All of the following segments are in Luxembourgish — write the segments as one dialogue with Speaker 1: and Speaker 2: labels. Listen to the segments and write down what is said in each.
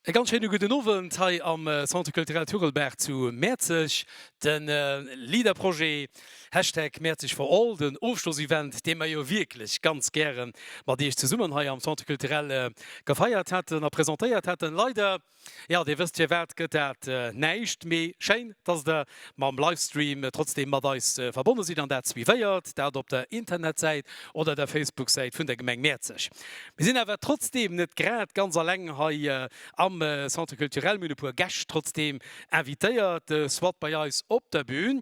Speaker 1: E ganz schéine gudden Owend hei am Centre Culturel Turelberg zu Mäerzeg. De LEADER-Projet, Hashtag Mäerzeg for all, den Ofschloss-Event, dee mer jo wierklech ganz gäre mat Iech zesummen hei am Centre Culturel gefeiert hätten a presentéiert hätten. Leider Jo, Dir wësst firwat gëtt dat näischt, mee schéin, dass Der mam Livestream trotzdeem mat eis verbonne sidd, an dat suivéiert, dat op der Internetsäit oder der Facebook-Säit vun der Gemeng Mäerzeg. Mir sinn awer trotzdeem net grad ganz aleng hei am Centre Culturel, mir hunn e puer Gäscht trotzdeem invitéiert soit bei eis op der Bühn.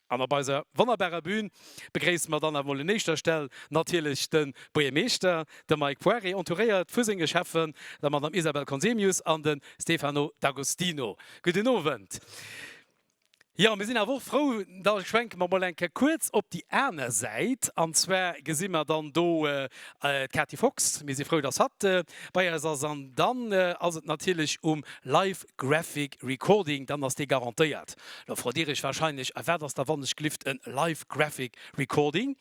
Speaker 1: An op eiser wonnerbarer Bühn begréisse mer dann awer mol un éischter Stell natierlech de Buergermeeschter, de Mike Poiré, entouréiert vu senge Schäffen, der Madame Isabelle Conzemius an de Stefano D'Agostino. Gudden Owend. Jo, mir sinn awer och frou, da schwenke mer mol eng Kéier kuerz op déi aner Säit, an zwar gesi mer dann do d'Kati Fox, mir si frou, dass hatt bei eis ass, an dann ass et natierlech um Live. Graphic Recording, dann ass dee garantéiert. Lo frot dir iech warscheinlech, A wat ass da wannechglift en Live Graphic Recording?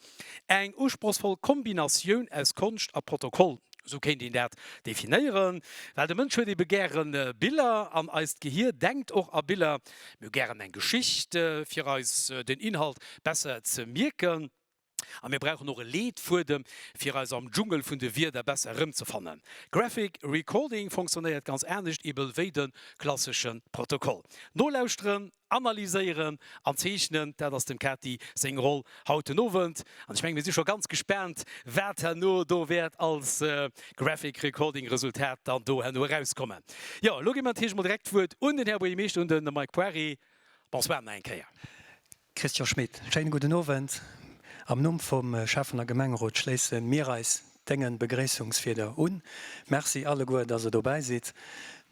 Speaker 1: Eng usprochsvoll Kombinatioun aus Konscht a Protokoll, esou kéint een dat definéieren. Well de Mënsch huet ebe gäre Biller an eist Gehier denkt och a Biller. Mir hu gären eng Geschicht, fir eis den Inhalt besser ze mierken. A mir brauchen och e Leetfuedem, fir eis am Dschungel vun de Wierder besser erëmzefannen. Graphic Recording funktionéiert ganz anescht eebel wéi de klassesche Protokoll. Nolauschteren, analyséieren an zeechnen, dat ass dem Kati seng Roll haut den Owend. An ech mengen, mir si scho ganz gespaant, wat herno do wäert als Graphic Recording Resultat dann do herno erauskommen. Jo, elo gi mer natierlech emol direkt d'Wuert un den Här Buergermeeschter, un de Mike Poiré. Bonsoir nach eng Kéier. Christian Schmit, Schéine gudden Owend. Am Numm vum Schäffen a Gemengerot schléisse mir eis Dengen Begréissungswierder un. Merci alleguer, dass Der dobäi sidd.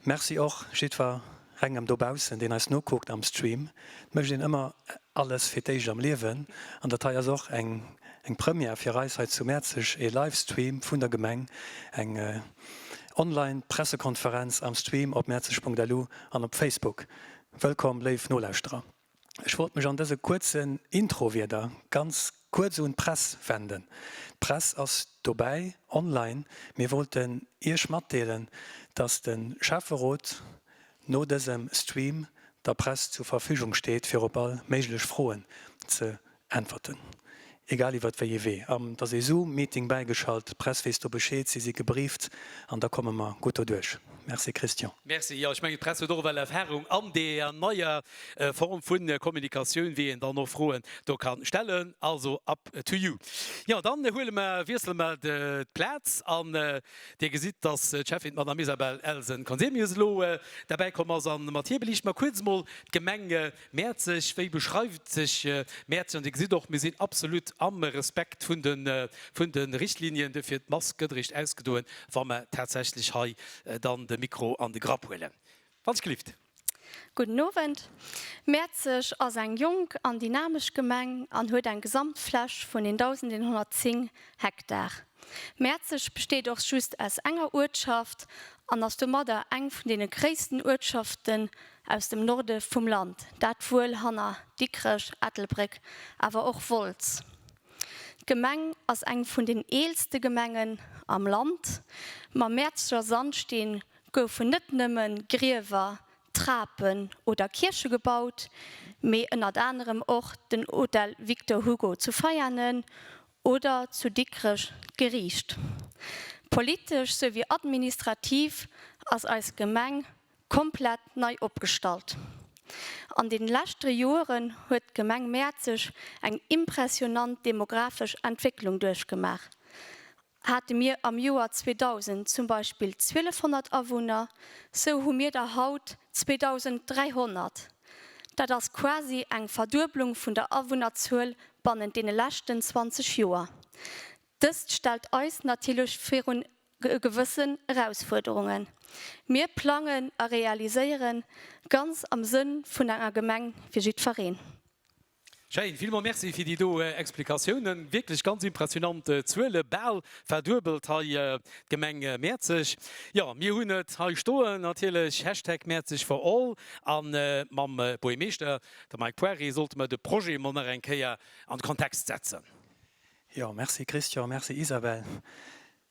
Speaker 1: Merci och jiddwer engem dobaussen, deen eis nokuckt am Stream. Et mécht een ëmmer alles fir d'éischt am Liewen an dat hei ass och eng eng Première fir eis hei zu Mäerzeg, ee Livestream vun der Gemeng, eng online Pressekonferenz am Stream op mäerzeg.lu an op Facebook. Wëllkomm léif Nolauschterer. Ech wollt mech an dëse kuerzen Introwierder ganz kuerz un d'Press wenden. D'Press ass dobäi online. Mir wollten Iech matdeelen, dass de Schäfferot no dësem Stream der Press zur Verfügung steet, fir op all méiglech Froen ze Äntwerten, egal iwwert wéi ee Wee. Am dass ee Zoom Meeting bäigeschalt, d'Press weess do Bescheed, si si gebrieft an da komme mer gutt doduerch. Merci Christian. Merci, jo ech mengen d'Press huet och ewell Erfahrung an deeër neier Form vun Kommunikatioun, wéi een dann och Froen do kann stellen, also up to you. Jo dann huele mer, wiessele mer d'Plaz an dir gesitt dass d'Schäffin d'Madame Isabelle Elsen-Conzemius elo derbäi komm ass an mat hir beliichte mer kuerz mol d'Gemeng, Mäerzeg, wéi beschreift sech Mäerzeg? An Dir gesitt och, mir sinn absolut am Respekt vun de Richtlinien. Duerfir, d'Mask gëtt eréischt ausgedoen, wa mer tatsächlech hei dann de Mikro an de Grapp huelen. Wann sech gelift. Gudden Owend. Mäerzeg ass eng jonk an dynamesch Gemeng an huet eng Gesamtfläch vun 1.110 Hektar. Mäerzeg besteet och just aus enger Uertschaft an ass domadder eng vun deene gréissten Uertschaften aus dem Norde vum Land, dat wuel hanner Dikrech, Ettelbréck, awer och Wolz. D'Gemeng ass eng vun den eelste Gemengen am Land. Mam Mäerzger Sandsteen goufen net nëmme Griewer, Trapen oder Kierche gebaut, mee ënnert anerem och den Hotel Victor Hugo zu Veianen oder zu Dikrech d'Geriicht. Politesch souwéi administrativ ass eis Gemeng komplett nei opgestallt. An den läschteren Joeren huet d'Gemeng Mäerzeg eng impressionant demografesch Entwécklung duerchgemaach, hate mir am Joer 2000 zum Beispill 1200 Awunner, sou hu mir der haut 2300. Dat ass quasi eng Verdueblung vun der Awunnerzuel bannent deene läschten 20 Joer. Dëst stellt eis natierlech virun gewëssen Erausfuerderungen. Mir plangen a realiséieren ganz am Sënn vun enger Gemeng fir jiddfereen. Schéin, villmols Merci fir déi do Explikatiounen. Wierklech ganz impressionant Zuelen, bal verduebelt hei d'Gemeng Mäerzeg. Jo, mir hunn et hei stoen natierlech, Hashtag Mäerzeg for all. A mam Buergermeeschter, de Mike Poiré, sollte mer de Projet emol nach eng Kéier an de Kontext setzen. Jo, merci Christian, merci Isabelle.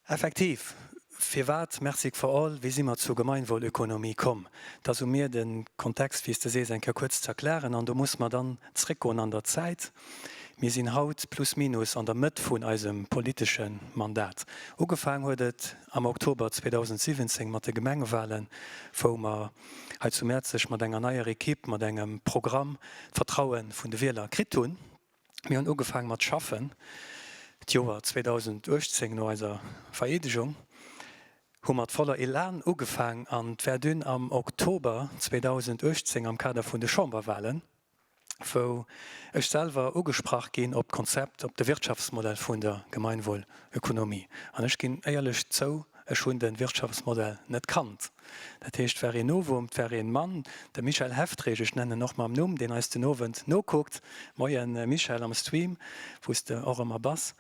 Speaker 1: Effektiv, firwat Mercique for All? Wéi si mer zur Gemeinwohlökonomie komm? Et ass u mir, den Kontext, wéi s de sees, eng Kéier kuerz ze erklären. An do musse mer dann zréckgoen an der Zäit. Mir sinn haut plus minus an der Mëtt vun eisem politesche Mandat. Ugefaang huet et am Oktober 2017 mat de Gemengewahlen, wou mer hei zu Mäerzeg mat enger neier Ekipp, mat engem Programm d'Vertraue vun de Wieler kritt hunn. Mir hunn ugefaang mat schaffen. D'Joer 2018, no eiser Vereedegung, hu mat voller Elan ugefaang an d'Verdun am Oktober 2018 am Kader vun de Chamberwahlen, wou ech selwer ugesprach ginn op d'Konzept, op de Wirtschaftsmodell vun der Gemeinwohlökonomie. An ech ginn éierlech zou, ech hunn de Wirtschaftsmodell net kannt. Dat heescht, d'War een Novum, d'War een Mann, de Michel Heftrich, ech nennen en och mam Numm, deen eis den Owend nokuckt, Moien Michel am Stream, wou s de och ëmmer bass.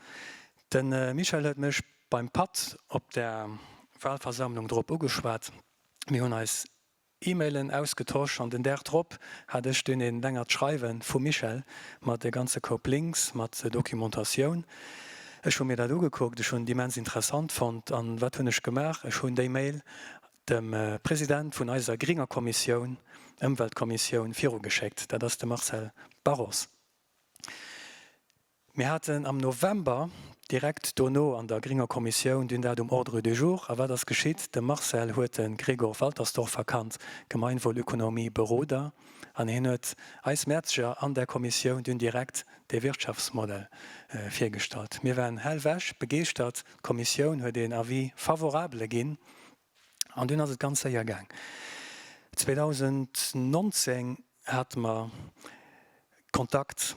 Speaker 1: De Michel huet mech beim Patt op der Walversammlung drop ugeschwat. Mir hunn eis E-Mailen ausgetosch an den Dag drop hat ech dunn e längert Schreiwe vum Michel mat e ganze Koup Links, mat Dokumentatioun. Ech hu mir dat ugekuckt, ech hunn et immens interessant fonnt. An wat hunn ech gemaach? Ech hunn déi Mail dem President vun eiser gringer Kommissioun, Ëmweltkommissioun, virugeschéckt. Dat ass de Marcel Barros. Mir haten am November direkt dono an der gringer Kommissioun dunn dat um Ordre du jour. A wat ass geschitt? De Marcel huet de Gregor Waltersdorfer kannt, Gemeinwohlökonomie-Beroder, an hien huet eis Mäerzeger an där Kommissioun dunn direkt de Wirtschaftsmodell virgestallt. Mir waren hellwech begeeschtert, d'Kommissioun huet een Avis favorable ginn an dunn ass et ganz séier gaang. 2019 hate mer Kontakt,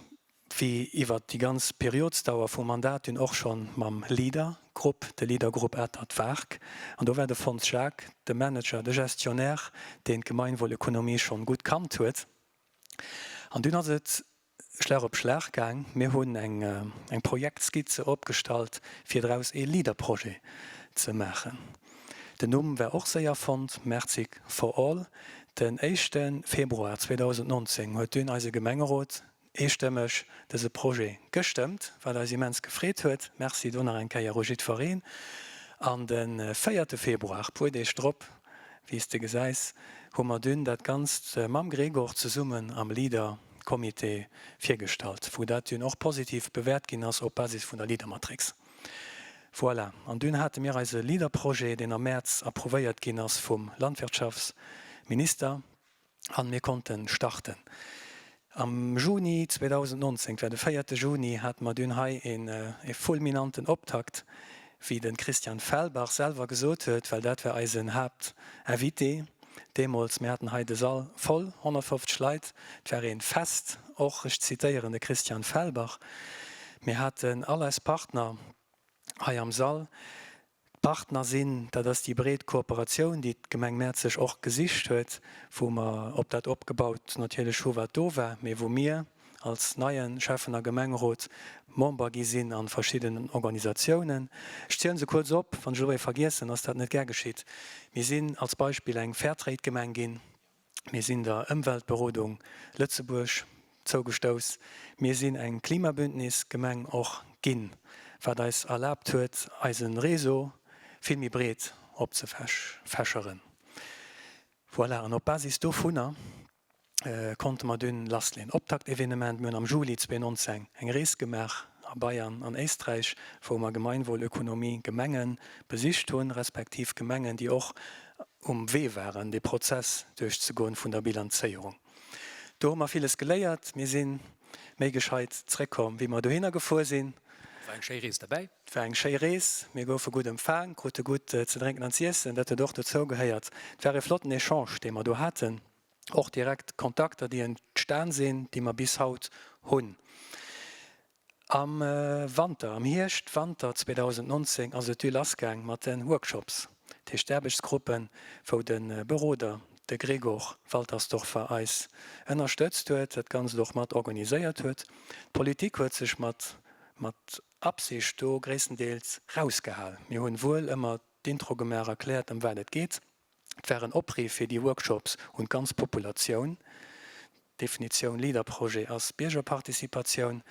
Speaker 1: wéi iwwert déi ganz Periodsdauer vum Mandat dunn och schonn, mam LEADER-Grupp, de LEADER-Grupp Atert Waark, an do war de Fons Jacques de Manager, de Gestionnaire, deen d'Gemeinwohlökonomie schonn gutt kannt huet. An dunn ass et Schlag op Schlag gaang. Mir hunn eng Projektskizze opgestallt, fir draus ee Leaderprojet ze maachen. Den Numm war och séier fonnt, Mertzig for all. Den éischte Februar 2019 huet dunn eise Gemengerot eestëmmeg dëse Projet gestëmmt, wat eis immens gefreet huet. Merci do nach eng Kéier u jiddwereen. An de véierte Februar, puer Deeg drop, wéi s de gesäis, hu mer dunn dat Ganzt mam Gregor zesummen am Leader. Comité virgestallt, wou dat dunn och positiv bewäert ginn ass op Basis vun der Leadermatrix. Voilà. An dunn hate mir eise Leaderprojet, deen am Mäerz approuvéiert ginn ass vum Landwirtschaftsminister, a mir konnte starten am Juni 2019. D'war de véierte Juni hate mer dunn hei e fulminanten Optakt wéi de Christian Felbach selwer gesot huet, well dat war eisen Haaptinvité deemools, mir haten hei de Sall voll, 150 Leit, et war ee Fest, och, ech zitéieren de Christian Felbach, mir haten all eis Partner hei am Sall, d'Partner sinn, dat ass déi breet Kooperatioun, déi d'Gemeng Mäerzeg och gesicht huet, wou mer op dat opgebaut natierlech hu wat do war, mee wou mir, als neien Schäffen a Gemengerot Member gi sinn an verschiddenen Organisatiounen. Ech zielen se kuerz op, wann ech elo ee vergiessen ass dat net gär geschitt. Mir sinn als Beispill eng Fairtrade Gemeng ginn, mir sinn der Ëmweltberodung Lëtzebuerg zougestouss, mir sinn eng Klimabündnis Gemeng och ginn, wat eis erlaabt huet eise Réseau vill méi breet opzefächeren. Voilà, an op Basis dovunner konnte mer dunn lassleen. Optaktevenement, Mir hunn am Juli 2019 eng Rees gemaach a Bayern an Éisträich, wou mer Gemeinwohl, Ökonomie, Gemenge besicht hunn, respektiv Gemengen, déi och um Wee waren, dee Prozess duerchzegoen vun der Bilanzéierung. Do hu mer villes geléiert. Mir si méi gescheit zréckkomm, wéi mer dohinner gefuer sinn. Et war eng schéi Rees derbäi. Et war eng schéi Rees. Mir goufe gutt empfaang, krute gutt ze drénken an z'iessen. Dat huet och dozougehéiert. Et war ee flotten Echange, dee mer do haten. och direkt Kontakter, déi entstan sinn, déi mer bis haut hunn. Am Wanter, am Hierscht-Wanter 2019 ass et du lassgaang mat de Workshops, dat heescht d'Aarbechtsgruppen, wou de Beroder, de Gregor Waltersdorfer eis ënnerstëtzt huet, dat Ganzt och mat organiséiert huet. D'Politik huet sech mat mat Absicht do gréisstendeels rausgehal. Mir hunn wuel ëmmer d'Intro gemaach, erkläert, ëm wat et geet, Et war en Opriff fir déi Workshops un d'ganz Populatioun. D'Definitioun LEADER-Projet ass Biergerparticipatioun.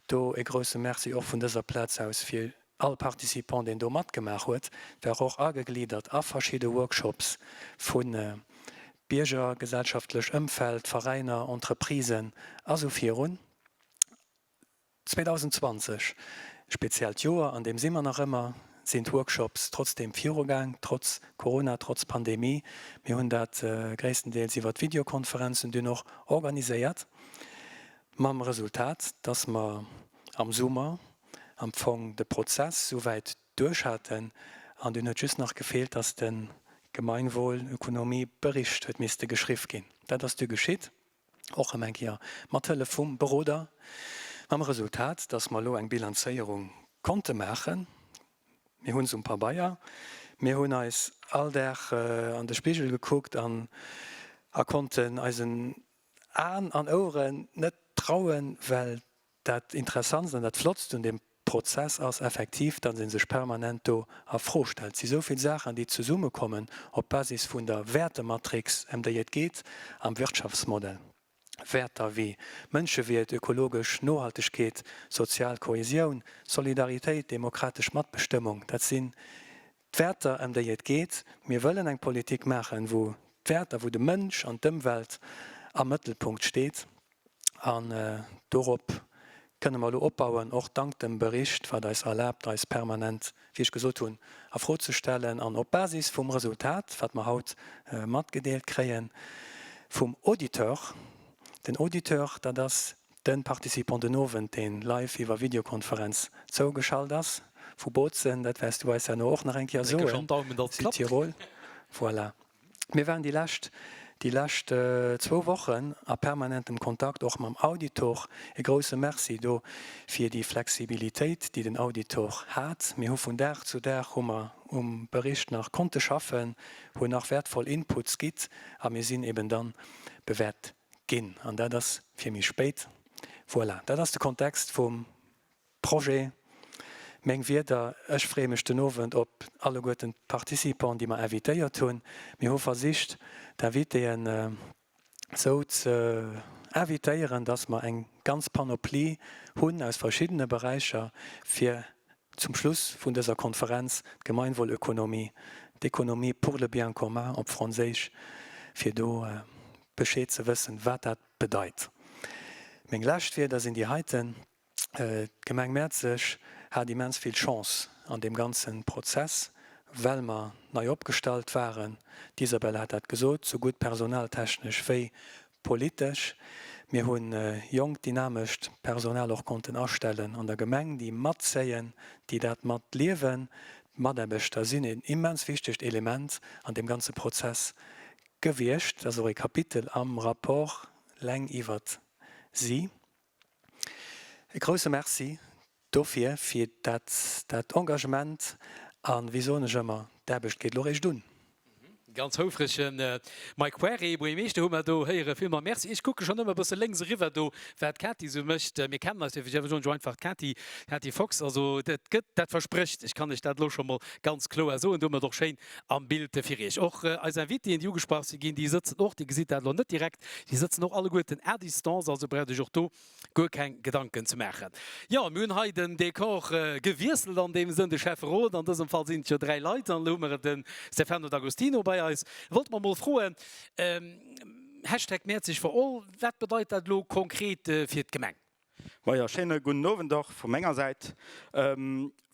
Speaker 1: Do e grousse Merci och vun dëser Plaz aus fir all Participant, deen do matgemaach huet. Et war och agegliddert a verschidde Workshops vu Bierger, gesellschaftlech Ëmfeld, Veräiner, Entreprisen a sou virun. 2020, speziellt Joer, an deem si mer nach ëmmer, sinn d'Workshops trotzdeem virugaang, trotz Corona, trotz Pandemie. Mir hunn dat gréisstendeels iwwert Videokonferenzen dunn och organiséiert, mam Resultat, dass mer am Summer am Fong de Prozess souwäit duerch haten an dunn huet just nach gefeelt, dass de Gemeinwohl-Ökonomie-Bericht huet misste geschriff ginn. Dat ass du geschitt. och erëm eng Kéier mat Hëllef vum Beroder, mam Resultat, dass mer elo eng Bilanzéierung konnte maachen. Mir hu se um Pabeier, mir hunn eis all Dag an de Spigel gekuckt an a konnten eisen Aen an Oueren net trauen, well Dat Interessantst an dat Flottst un deem Prozess ass effektiv, dass ee sech permanent do a Fro stellt. Et si souvill Saachen, déi zesummekommen op Basis vun der Wäertematrix, ëm déi et geet am Wirtschaftsmodell. Wäerter wéi Mënschewiert, ökologesch Nohaltegkeet, sozial Kohäsioun, Solidaritéit, demokratesch Matbestëmmung, dat sinn D'Wäerter, ëm déi et geet, Mir wëllen eng Politik maachen, wou d'Wäerter, wou de Mënsch an d'Ëmwelt am Mëttelpunkt steet. An dorop kënnen mer elo opbauen, och dank dem Bericht, wat eis erlaabt, eis permanent, wéi ech gesot hunn, a Fro ze stellen. An op Basis vum Resultat, wat mer haut matgedeelt kréie vum Auditeur, den Auditeur, dat ass Den Participant den Owend, deen live iwwer Videokonferenz zougeschalt ass vu Bozen, dat wärs du eis herno och nach eng Kéier soen, Südtirol, voilà. Mir waren déi lescht, déi lescht zwou Wochen a permanentem Kontakt och mam Auditor. E grousse Merci do fir déi Flexibilitéit, déi den Auditor hat. Mir hu vun Dag zu Dag hu mer um Bericht nach konnte schaffen, hunn nach wäertvoll Inputs gitt a mir sinn eben dann bewäert Ginn, an dat ass fir méi spéit. Voilà, dat ass de Kontext vum Projet, meng Wierder. Ech freeë mech den Owend op alleguerten d'Participants, déi mer invitéiert hunn. Mir hu versicht, d'Invitéen esou ze invitéieren, dass mer eng ganz Panoplie hunn aus verschiddene Beräicher, fir Zum Schluss vun dëser Konferenz d'Gemeinwohlökonomie, d'économie pour le bien commun op Franséisch, fir do Bescheed ze wëssen, wat dat bedeit. Meng lescht Wierder sinn déi heiten, D'Gemeng Mäerzeg hat immens vill Chance an deem ganze Prozess, well mer nei opgestallt waren, d'Isabelle hat dat gesot, sougutt personaltechnesch wéi Politesch, Mir hu jonkt, dynamescht Personal och konnten astellen an der Gemeng, déi matzéien, déi dat mat liewen. D'Mataarbechter sinn een immens wichtegt Element an deem ganze Prozess gewiescht. Dat ass och ee Kapitel am Rapport leng iwwert si. E grousse Merci dofir, fir dat, dat Engagement a wéi soen ech ëmmer, d'Aarbecht geet elo réischt un. Ganz houfreg, Mike Querrey, Buergermeeschter, hu mer do héieren. Villmols Merci. Ech kucke schonn ëmmer e bësse lénks eriwwer do, wat d'Kati esou mécht. Mir kennen eis, dierf ech effe soen, scho einfach d'Kati, d'Kati Fox. Also dat gëtt, dat versprécht, ech kann lech dat elo scho mol ganz kloer soen. Do huet mer et och schéin Am Bild fir Iech och eis Invitéen, déi ugesprach si ginn. Déi sëtzen och, Dir gesitt dat elo net direkt, déi sëtzen och alleguerten à distance, also braucht Iech och do guer keng Gedanken ze maachen. Jo, mir hunn hei den Dekor gewiesselt an deem Sënn. De Schäfferot, an dësem Fall sinn et jo dräi Leit, an elo hu mer de Stefano D'Agostino bei eis. Wollt mer emol froen, Hashtag Mäerzeg for all, wat bedeit dat elo konkret fir d'Gemeng? Majo, schéine gudden Owend och vu menger Säit.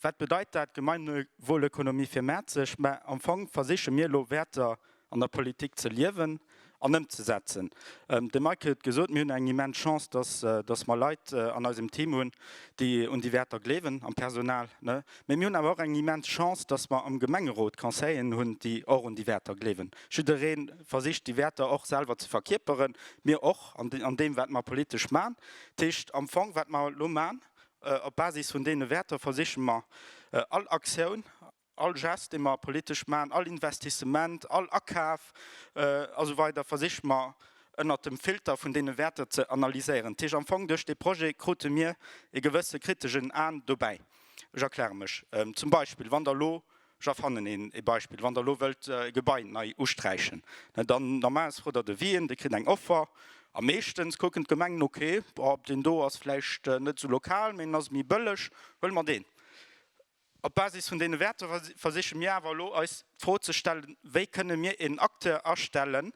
Speaker 1: Wat bedeit dat Gemeinwohlökonomie fir Mäerzeg? Mä am Fong versiche mir elo Wäerter an der Politik ze liewen an ëmzesetzen. De Mike huet gesot, mir hunn eng immens Chance, dass dass mer Leit an eisem Team hunn, déi un déi Wäerter gleewen am Personal. Mä mir hunn awer och eng immens Chance, dass mer am Gemengerot Conseillen hunn, déi och un déi Wäerter gleewen. Jidderee. versicht déi Wäerter och selwer ze verkierperen, mir och an deem wat mer politesch man. Dat heescht am Fong wat mer elo man, op Basis vun deene Wäerter versiche mer all Aktioun, all Gest dee mer politesch man, all Investissement, all Akaf a sou weider versiche mer ënnert dem Filter vun deene Wäerter ze analyséieren. Dat heescht am Fong duerch dee Projet krute mir e gewësse kritegen An dobäi. Ech erkläre mech, zum Beispill wann Der elo Ech erfannen een ee Beispill, Wann Der elo wëllt e Gebai nei usträichen, dann normalerweis frot Der de Wien, Der kritt eng Offer a meeschtens kucken d'Gemengen, okay, boah, deen do ass vläicht net esou lokal, mee en ass méi bëlleg, huele mer deen. Op Basis vun deene Wäerter versiche mir awer elo eis d'Fro ze stellen, Wéi kënne mir een Acteur astellen,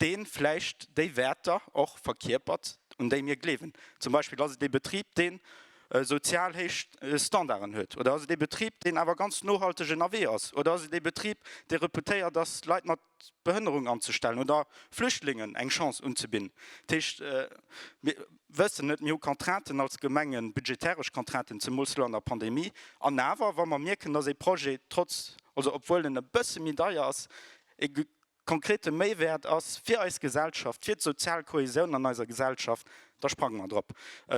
Speaker 1: dee vläicht déi Wäerter och verkierpert, un déi mir gleewen? Zum Beispill ass et ee Betrib, deen sozial héich Standarden huet? Oder ass et ee Betrib, deen awer ganz nohalteg ënnerwee ass? Oder ass et ee Betrib, dee reputéiert ass, Leit mat Behënnerung anzestellen oder Flüchtlingen eng Chance unzebidden? Dat heescht, mir wëssen net, mir hu Contrainten als Gemengen, budgetäresch Contrainten, zemools elo an der Pandemie. An awer, wa mer mierken, dass ee Projet trotz, also obwuel en e bësse méi deier ass, ee konkrete Méiwäert ass fir eis Gesellschaft, fir d'sozial Kohäsioun an eiser Gesellschaft, da sprange mer drop.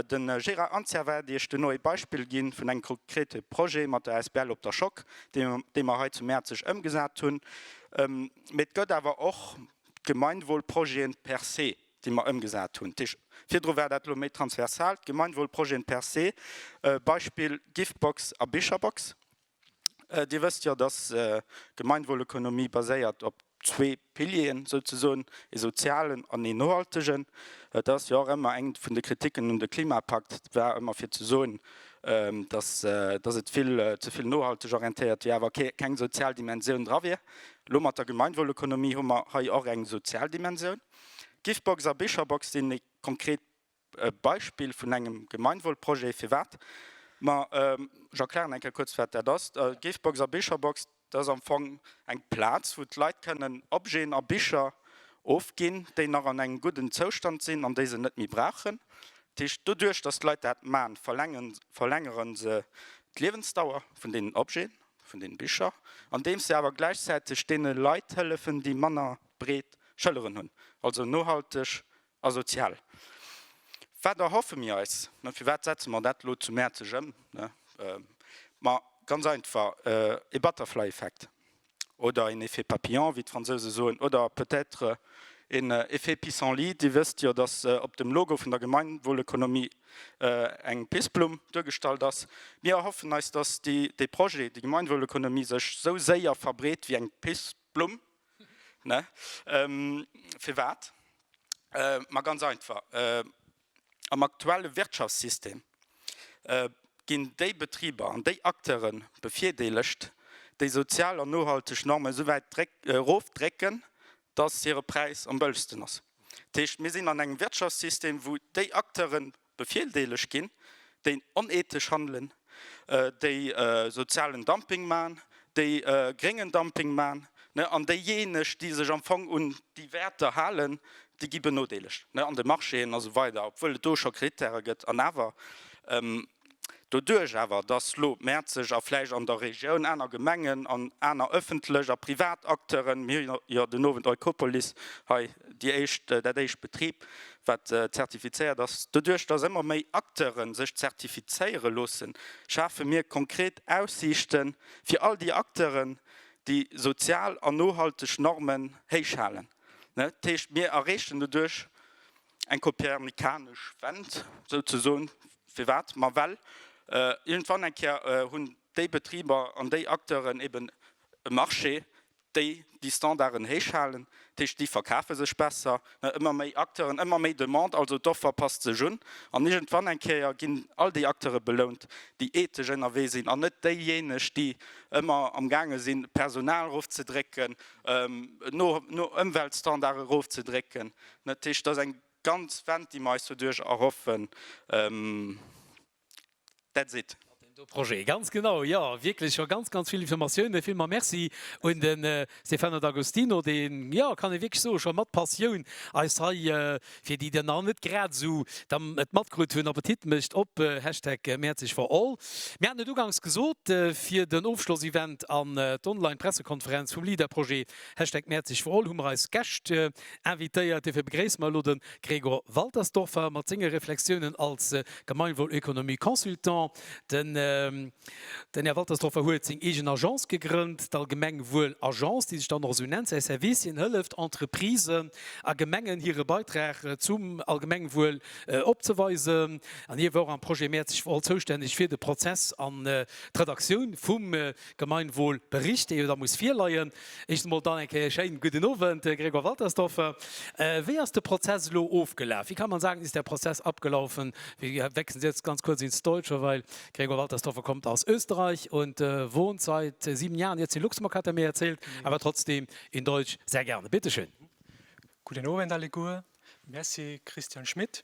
Speaker 1: De Gérard Anzia waert Iech duerno ee Beispill gi vun engem konkrete Projet mat der asbl Op der Schock, dee mer hei zu Mäerzeg ëmgesat hunn. Mee et gëtt awer och d'Gemeinwohlprojete per se, déi mer ëmgesat hunn. Virdru war dat elo méi transversal, d'Gemeinwohlprojete per se, Beispill Giftbox a Bicherbox. Dir wësst jo, dass d'Gemeinwohlökonomie baséiert op zwee Pilieren, souzesoen, ee sozialen an een nohaltegen. Et ass jo och ëmmer eng vun de Kritiken un de Klimapakt war ëmmer fir ze soen, dass dass et vill ze vill nohalteg orientéiert wier, awer kee keng sozial Dimensioun dra wier. Elo mat der Gemeinwohlökonomie hu mer hei och eng sozial Dimensioun. Giftbox a Bicherbox sinn konkret E Beispill vun engem Gemeinwohlprojet, firwat mer Jacques Lahren eng Kéier kuerz wat dat ass, d'Gifbox a Bicherbox, dat ass am Fong eng Plaz, wou d'Leit kënnen Objeten a Bicher ofginn, déi nach an engem gudden Zoustand sinn an déi se net méi brauchen. Dat heescht, doduerch datt d'Leit dat maachen, verlängere se d'Liewensdauer vun deenen Objeten, vun deene Bicher, andeems se awer gläichzäiteg deene Leit hëllefen, déi manner breet Schëlleren hunn. Also nohalteg A sozial. Wat erhoffe mir eis? Mä firwat setze mer dat elo zu Mäerzeg ëm? Ma ganz einfach, ee Butterfly-Effekt oder een Effet papillon, wéi d'Fransouse soen, oder peut-être een Effet pissenlit. Dir wësst jo, datt op dem Logo vun der Gemeinwohlökonomie eng Pissblumm duergestallt ass. Mir erhoffen eis, datt dee Projet, déi Gemeinwohlökonomie sech esou séier verbreet wéi eng Pissblumm. Ne? Ähm, firwat? Äh, ma ganz einfach, äh, am aktuelle Wirtschaftssystem äh, ginn déi Betriber an déi Acteure bevirdeelegt, déi sozial an nohalteg Normen esou wäit erofdrécken, datt hire Präis am bëlschsten ass. Dat heescht, mir sinn an engem Wirtschaftssystem, wou déi Acteuren, Bevirdeelegt ginn, déi onethesch handelen, déi sozialen Dumping maachen, déi gréngen Dumping maachen, an déijeeneg, déi sech am Fong un déi Wäerter halen, déi gi benodeelegt an de Marchéen a sou weider, obwuel et do scho Krittäre gëtt. An awer, doduerch awer, datt elo Mäerzeg a vläicht an der Regioun aner Gemengen an aner ëffentlech a privat Acteuren, mir hu jo den Owend Eukopolis hei déi éischt, dat éischt Betrib wat zertifizéiert ass. Doduerch datt ëmmer méi Acteure sech zertifizéiere loossen, schafe mir konkret Aussiichte fir all déi Acteuren, déi sozial an nohalteg Normen héich halen. Dat heescht, mir erreechen doduerch eng kopernikanesch Wend souzesoen. Firwat? Ma well iergendwann eng Kéier hunn déi Betriber an déi Acteuren eben e Marché, déi déi Standarden héich halen, dat heescht déi verkafe sech besser, ëmmer méi Acteuren, ëmmer méi Demande, also d'Offer passt sech un an iergendwann eng Kéier ginn all déi Acteure belount, déi ethesch ënnerwee sinn an net déijéineg, déi ëmmer am gaange sinn Personal erofzedrécken, no Ëmweltstandarde erofzedrécken. Dat heescht, dat ass eng ganz Wend, déi mer eis doduerch erhoffen. That's it. Projet. Ganz genau, jo wierklech scho ganz ganz vill Informatiounen. Villmols Merci un den Stefano D'Agostino, deen, jo kann ee wierklech soen, scho mat Passioun eis hei, fir déi der nach net grad esou dann et matkrut hunn, Appetit mécht op Hashtag Mäerzeg for all. Mir haten et uganks gesot, fir den Ofschlossevent an d'Online-Pressekonferenz vum LEADER-Projet Hashtag Mäerzeg for all hu mer eis Gäscht Invitéiert dofir begréisse mer elo de Gregor Waltersdorfer mat senge Reflexiounen als Gemeinwohlökonomie-Consultant. Den Här Waltersdorfer huet seng eegen Agence gegrënnt, d'Allgemengwuel-Agence, déi sech dann och esou nennt. Säi Service, hien hëlleft Entreprisen a Gemengen, hire Beitrag zum Allgemengwuel opzeweisen. An hie war och am Projet Mäerzeg Wal zoustänneg fir de Prozess an d'Redaktioun vum Gemeinwohlbericht, dee jo da muss virleien. Éischtens emol dann eng Kéier schéin gudden Owend, Grégoire Waltersdorfer. Wéi ass de Prozess elo ofgelaf? Wie kann man sagen, ist der Prozess abgelaufen? Wir wechseln jetzt ganz kurz ins Deutsche, weil Grégoire Waltersdorfer kommt aus Österreich und wohnt seit sieben Jahren jetzt in Luxemburg, hat er mir erzählt, aber trotzdem in Deutsch sehr gerne. Bitte schön. Gudden Owend alleguer. Merci Christian Schmit.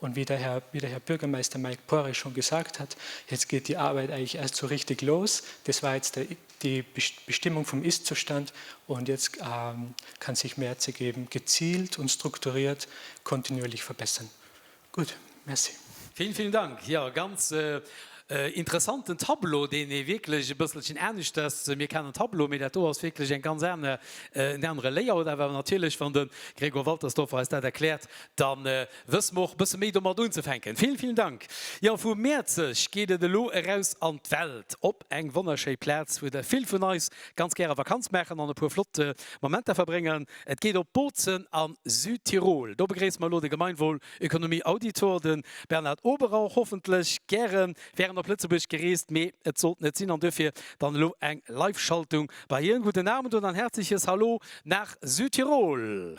Speaker 1: Und wie der Herr, wie der Herr Bürgermeister Mike Poiré schon gesagt hat, jetzt geht die Arbeit eigentlich erst so richtig los. Das war jetzt der, die Bestimmung vom Ist-Zustand und jetzt ähm, kann sich mehr zu geben, gezielt und strukturiert kontinuierlich verbessern. Gut, merci. Vielen, vielen Dank. Jo, ganz äh, äh, interessanten Tableau, deen ee wierklech e bësselchen aneschters mir kennen Tableau, mee dat do ass wierklech eng ganz aner, äh, en anere Layout. Awer natierlech, wann de Gregor Waltersdorfer eis dat erkläert, dann äh, Wëss mer och bësse méi domat unzefänken. Villen, villen Dank. Jo, vu Mäerzeg geet et elo eraus an d'Welt, op eng wonnerschéi Plaz, wou der vill vun eis ganz gäre Vakanz maachen an e puer flott Momenter verbréngen. Et geet op Bozen a Südtirol. Do begréissen mer elo de Gemeinwohlökonomie-Auditor, de Bernhard Oberrauch, hoffentlech gären während op Lëtzebuerg gereest, mee et sollt net sinn an duerfir dann elo eng Live-Schaltung bei hien. Guten Abend und ein herzliches Hallo nach Südtirol.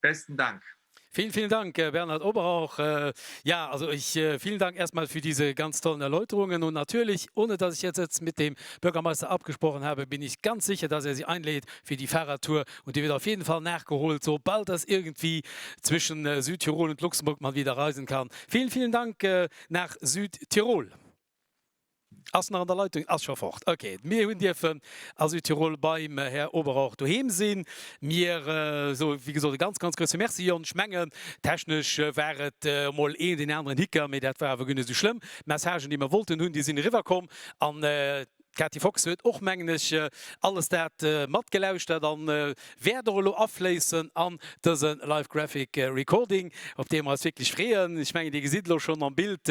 Speaker 1: Besten Dank. Vielen, vielen Dank, Bernhard Oberhauch. Ja, also ich, vielen Dank erst mal für diese ganz tollen Erläuterungen. Und natürlich, ohne dass ich jetzt jetzt mit dem Bürgermeister abgesprochen habe, bin ich ganz sicher, dass er Sie einlädt für die Fahrradtour. Und die wird auf jeden Fall nachgeholt, sobald das irgendwie zwischen Südtirol und Luxemburg mal wieder reisen kann. Vielen, vielen Dank nach Südtirol. Ass nach an der Leitung? Ass scho fort. Ok. Mir hunn dierfen a Südtirol beim Här Oberrauch doheem sinn. Mir soe wéi gesot e ganz, ganz grousse Merci, Jon. Ech mengen, technesch war et emol een, deen aneren Hicker, mee dat war awer guer net esou schlëmm. D'Messagen, déi mer wollten hunn, déi sinn eriwwerkomm. An D'Kati Fox huet och, mengen ech, alles dat matgelauschtert an wäert och elo afléissen an dëse Live Graphic Recording, op dee mer eis wierklech freeën. Ech mengen, Dir gesitt elo schonn am Bild,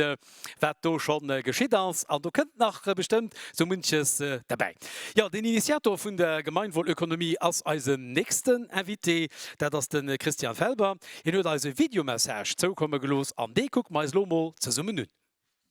Speaker 1: wat do scho geschitt ass. An do kënnt nach bestëmmt sou munches derbäi. Jo, den Initiator vun der Gemeinwohlökonomie ass eisen nächsten Invité. Dat ass de Christian Felber. Hien huet eis e Videomessage zoukomme gelooss an dee kucke mer eis elo emol zesummen un.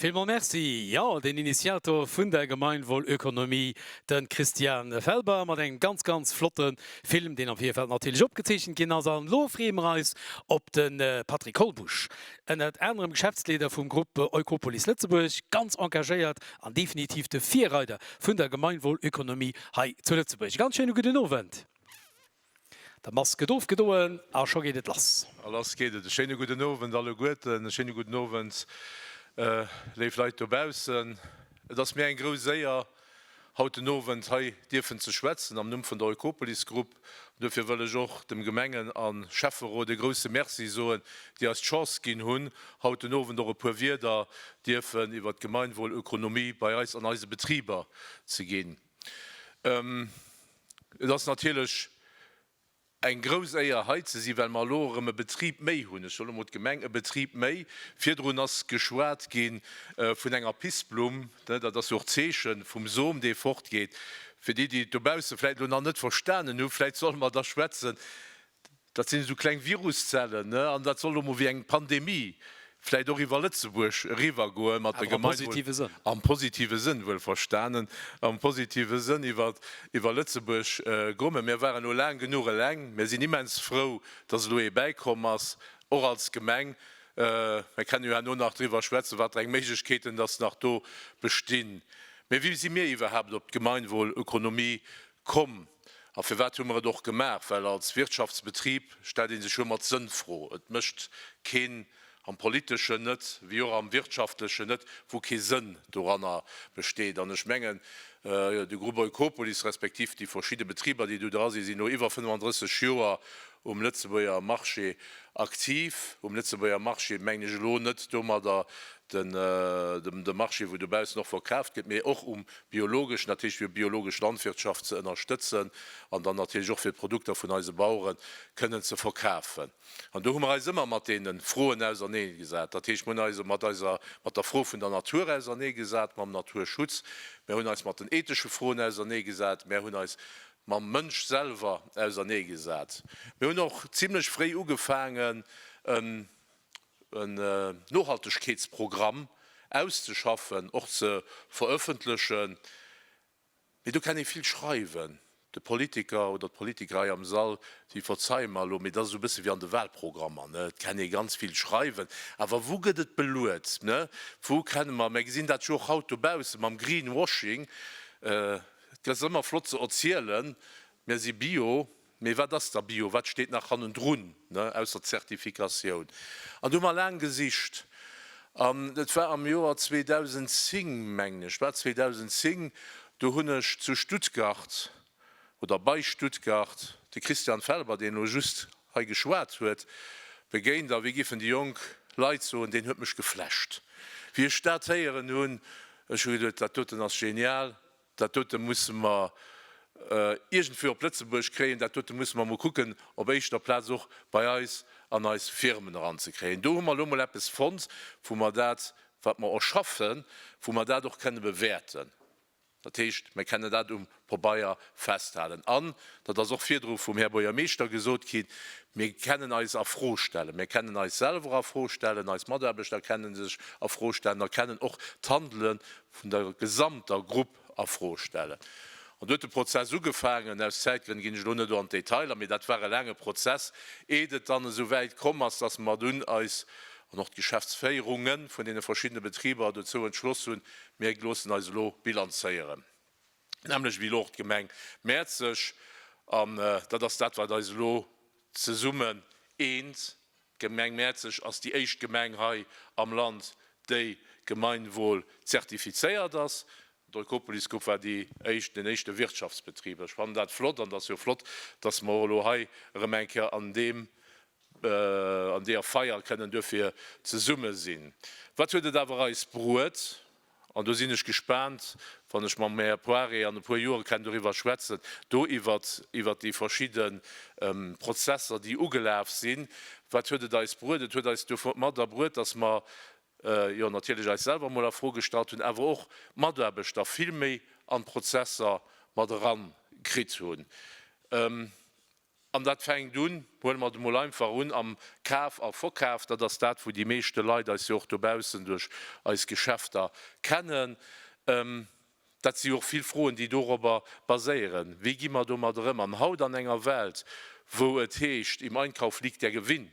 Speaker 1: Villmols Merci. Jo, den Initiator vun der Gemeinwohlökonomie, den Christian Felber mat engem ganz ganz flotten Film, deen am Virfeld natierlech opgezeechent ginn ass. An elo freeë mer eis op den Patrick Holbusch, ënnert anerem Geschäftsleeder vum Groupe Oikopolis Lëtzebuerg, ganz engagéiert an definitiv de Virreider vun der Gemeinwohlökonomie hei zu Lëtzebuerg. E ganz schéine gudden Owend. Da Mask gëtt ofgedoen a scho geet et lass. A lass geet et. E schéine gudden Owend alleguerten. E schéine gudden Owend, léif Leit dobaussen. Et ass mir eng grouss Éier, haut den Owend hei dierfen ze schwätzen am Numm vun der Eukopolis Grupp. An duerfir wëll ech och dem Gemengen a Schäfferot e grousse Merci soen, déi eis d'Chance ginn hunn, haut den Owend och e puer Wierder dierfen iwwert d'Gemeinwohl-Ökonomie bei eis an eise Betriber ze ginn. Et ass natierlech eng grouss Éier, hei ze sinn, well mer elo erëm e Betrib méi hunn, ech soen elo mol d'Gemeng, e Betrib méi. Virdrun ass geschwat gi vun enger Pissblumm, dat ass jo och d'Zeeche vum Som, dee fortgeet. Fir déi, déi et dobausse vläicht elo nach net verstanen hu, vläicht solle mer da schwätzen, Dat sinn esou kleng Viruszellen, ne? An dat soll elo mol wéi eng Pandemie vläicht och iwwer Lëtzebuerg eriwwergoen, mat der Gemeinwohl. Awer am positive Sënn. Am positive Sënn, wuelverstanen. Am positive Sënn iwwer, iwwer Lëtzebuerg goen. Mä mir waren elo laang genuch eleng. Mir sinn immens frou, dass elo ee bäikomm ass, och als Gemeng. Mir kennen jo herno nach driwwer schwätzen, wat fir eng Méiglechkeeten dass nach do bestinn. Mä wéi si mir iwwerhaapt op d'Gemeinwohlökonomie komm? A firwat hu mer et och gemaach? Well als Wirtschaftsbetrib stellt ee sech jo ëmmer d'Sënnfro. Et mécht keen, am Politeschen net, wéi och am Wirtschaftlechen net, wou kee Sënn doranner besteet. An ech mengen, de Groupe Eukopolis, respektiv déi verschidde Betriber, déi do dra sinn, sinn no iwwer 35 Joer um Lëtzebuerger Marché aktiv. Um Lëtzebuerger Marché mengen ech elo net domadder de Marché, wou dobaussen och verkaaft gëtt, mee och um biologesch natierlech fir biologesch Landwirtschaft ze ënnerstëtzen an dann natierlech och fir d'Produkter vun eise Bauere kënnen ze verkafen. An do hu mer eis ëmmer mat deene Froen ausernee gesat. Dat heescht, mir hunn eis mat eiser, mat der Fro vun der Natur ausernee gesat, mam Naturschutz, mär hunn eis mat den ethesche Froen ausernee gesat, mär hunn eis mam Mënsch selwer ausernee gesat. Mir hunn och zimlech fréi ugefaangen, e en Nohaltegkeetsprogramm auszeschaffen, och ze verëffentlechen, mee do kann ee vill schreiwen, de Politiker oder d'Politiker hei am Sall, déi verzeie mer elo, mee dat ass esou e bësse wéi an de Wahlprogrammer, et kann ee ganz vill schreiwen, awer wou gëtt et beluet, wou kenne mer, mer gesinn dat jo och haut dobausse mam Greenwashing, et ass ëmmer flott ze erzielen, mer si bio, Mee wat ass da Bio? Wat steet nach hannendrun, ausser Zertifikatioun? An do hu mer laang gesicht. An et war am Joer 2010, mengen ech, war 2010, do hunn ech zu Stuttgart oder bei Stuttgart de Christian Felber, deen elo just hei geschwat huet, begéint. A wéi giffen déi jonk Leit soen, deen huet mech geflasht. Wéi ech dat héieren hunn, ech hu geduet, dat doten ass genial, Dat dote musse mer iergendwéi op Lëtzebuerg kréien. Dat dote musse mer emol kucken, op éischter Plaz och bei eis an eis Firmen eranzekréien. Do hu mer elo mol eppes fonnt, wou mer dat, wat mer erschaffen, wou mer dat och kënne bewäerten. Dat heescht, mer kennen dat um Pobeier festhalen. An, dat ass och virdru vum Här Buergermeeschter gesot ginn, mir kennen eis a Fro stellen. Mir kennen eis selwer a Fro stellen, eis Mataarbechter kenne sech a Fro stellen a kennen och d'Handele vun der gesamter Grupp a Fro stellen. An do huet de Prozess ugefaangen. Aus Zäitgrënn ginn ech elo net do an d'Detailer, mee dat war e laange Prozess, eet et dann esou wäit komm ass, dass mer dunn eis an och d'Geschäftsféierunge vun deene verschiddene Betriber dozou entschloss hunn, mir loossen eis elo bilanzéieren. Nämlech wéi elo och d'Gemeng Mäerzeg. An dat ass dat, wat eis elo zesummen eent. D'Gemeng Mäerzeg ass déi éischt Gemeng hei am Land, déi Gemeinwohl zertifizéiert ass. D'Eukopolisgrupp war déi éischt, den éischte Wirtschaftsbetrib. Ech fannen dat flott an et ass jo flott, dass mer och elo hei erëm eng Kéier an deem, an deeër Feier kënnen duerfir zesumme sinn. Wat huet et awer eis bruet? An do sinn ech gespaant, wann ech mam Här Poiré an e puer Joere kennen doriwwer schwätzen, do iwwert, iwwert déi verschidde Prozesser, déi ugelaf sinn, wat huet et eis bruet? Et huet eis domat erbruet, dass mer, jo, natierlech eis selwer emol a Fro gestallt hunn, awer och d'Mataarbechter vill méi an d'Prozesser mat eran kritt hunn. An dat fänkt un, huele mer et emol einfach un, am Kaf a Verkaf. Dat ass dat, wou déi meeschte Leit eis jo och dobaussen duerch eis Geschäfter kennen. Dat si jo och vill Froen, déi dorobber baséieren, Wéi gi mer domadder ëm? An haut an enger Welt, wou et heescht, Im Einkauf liegt der Gewinn,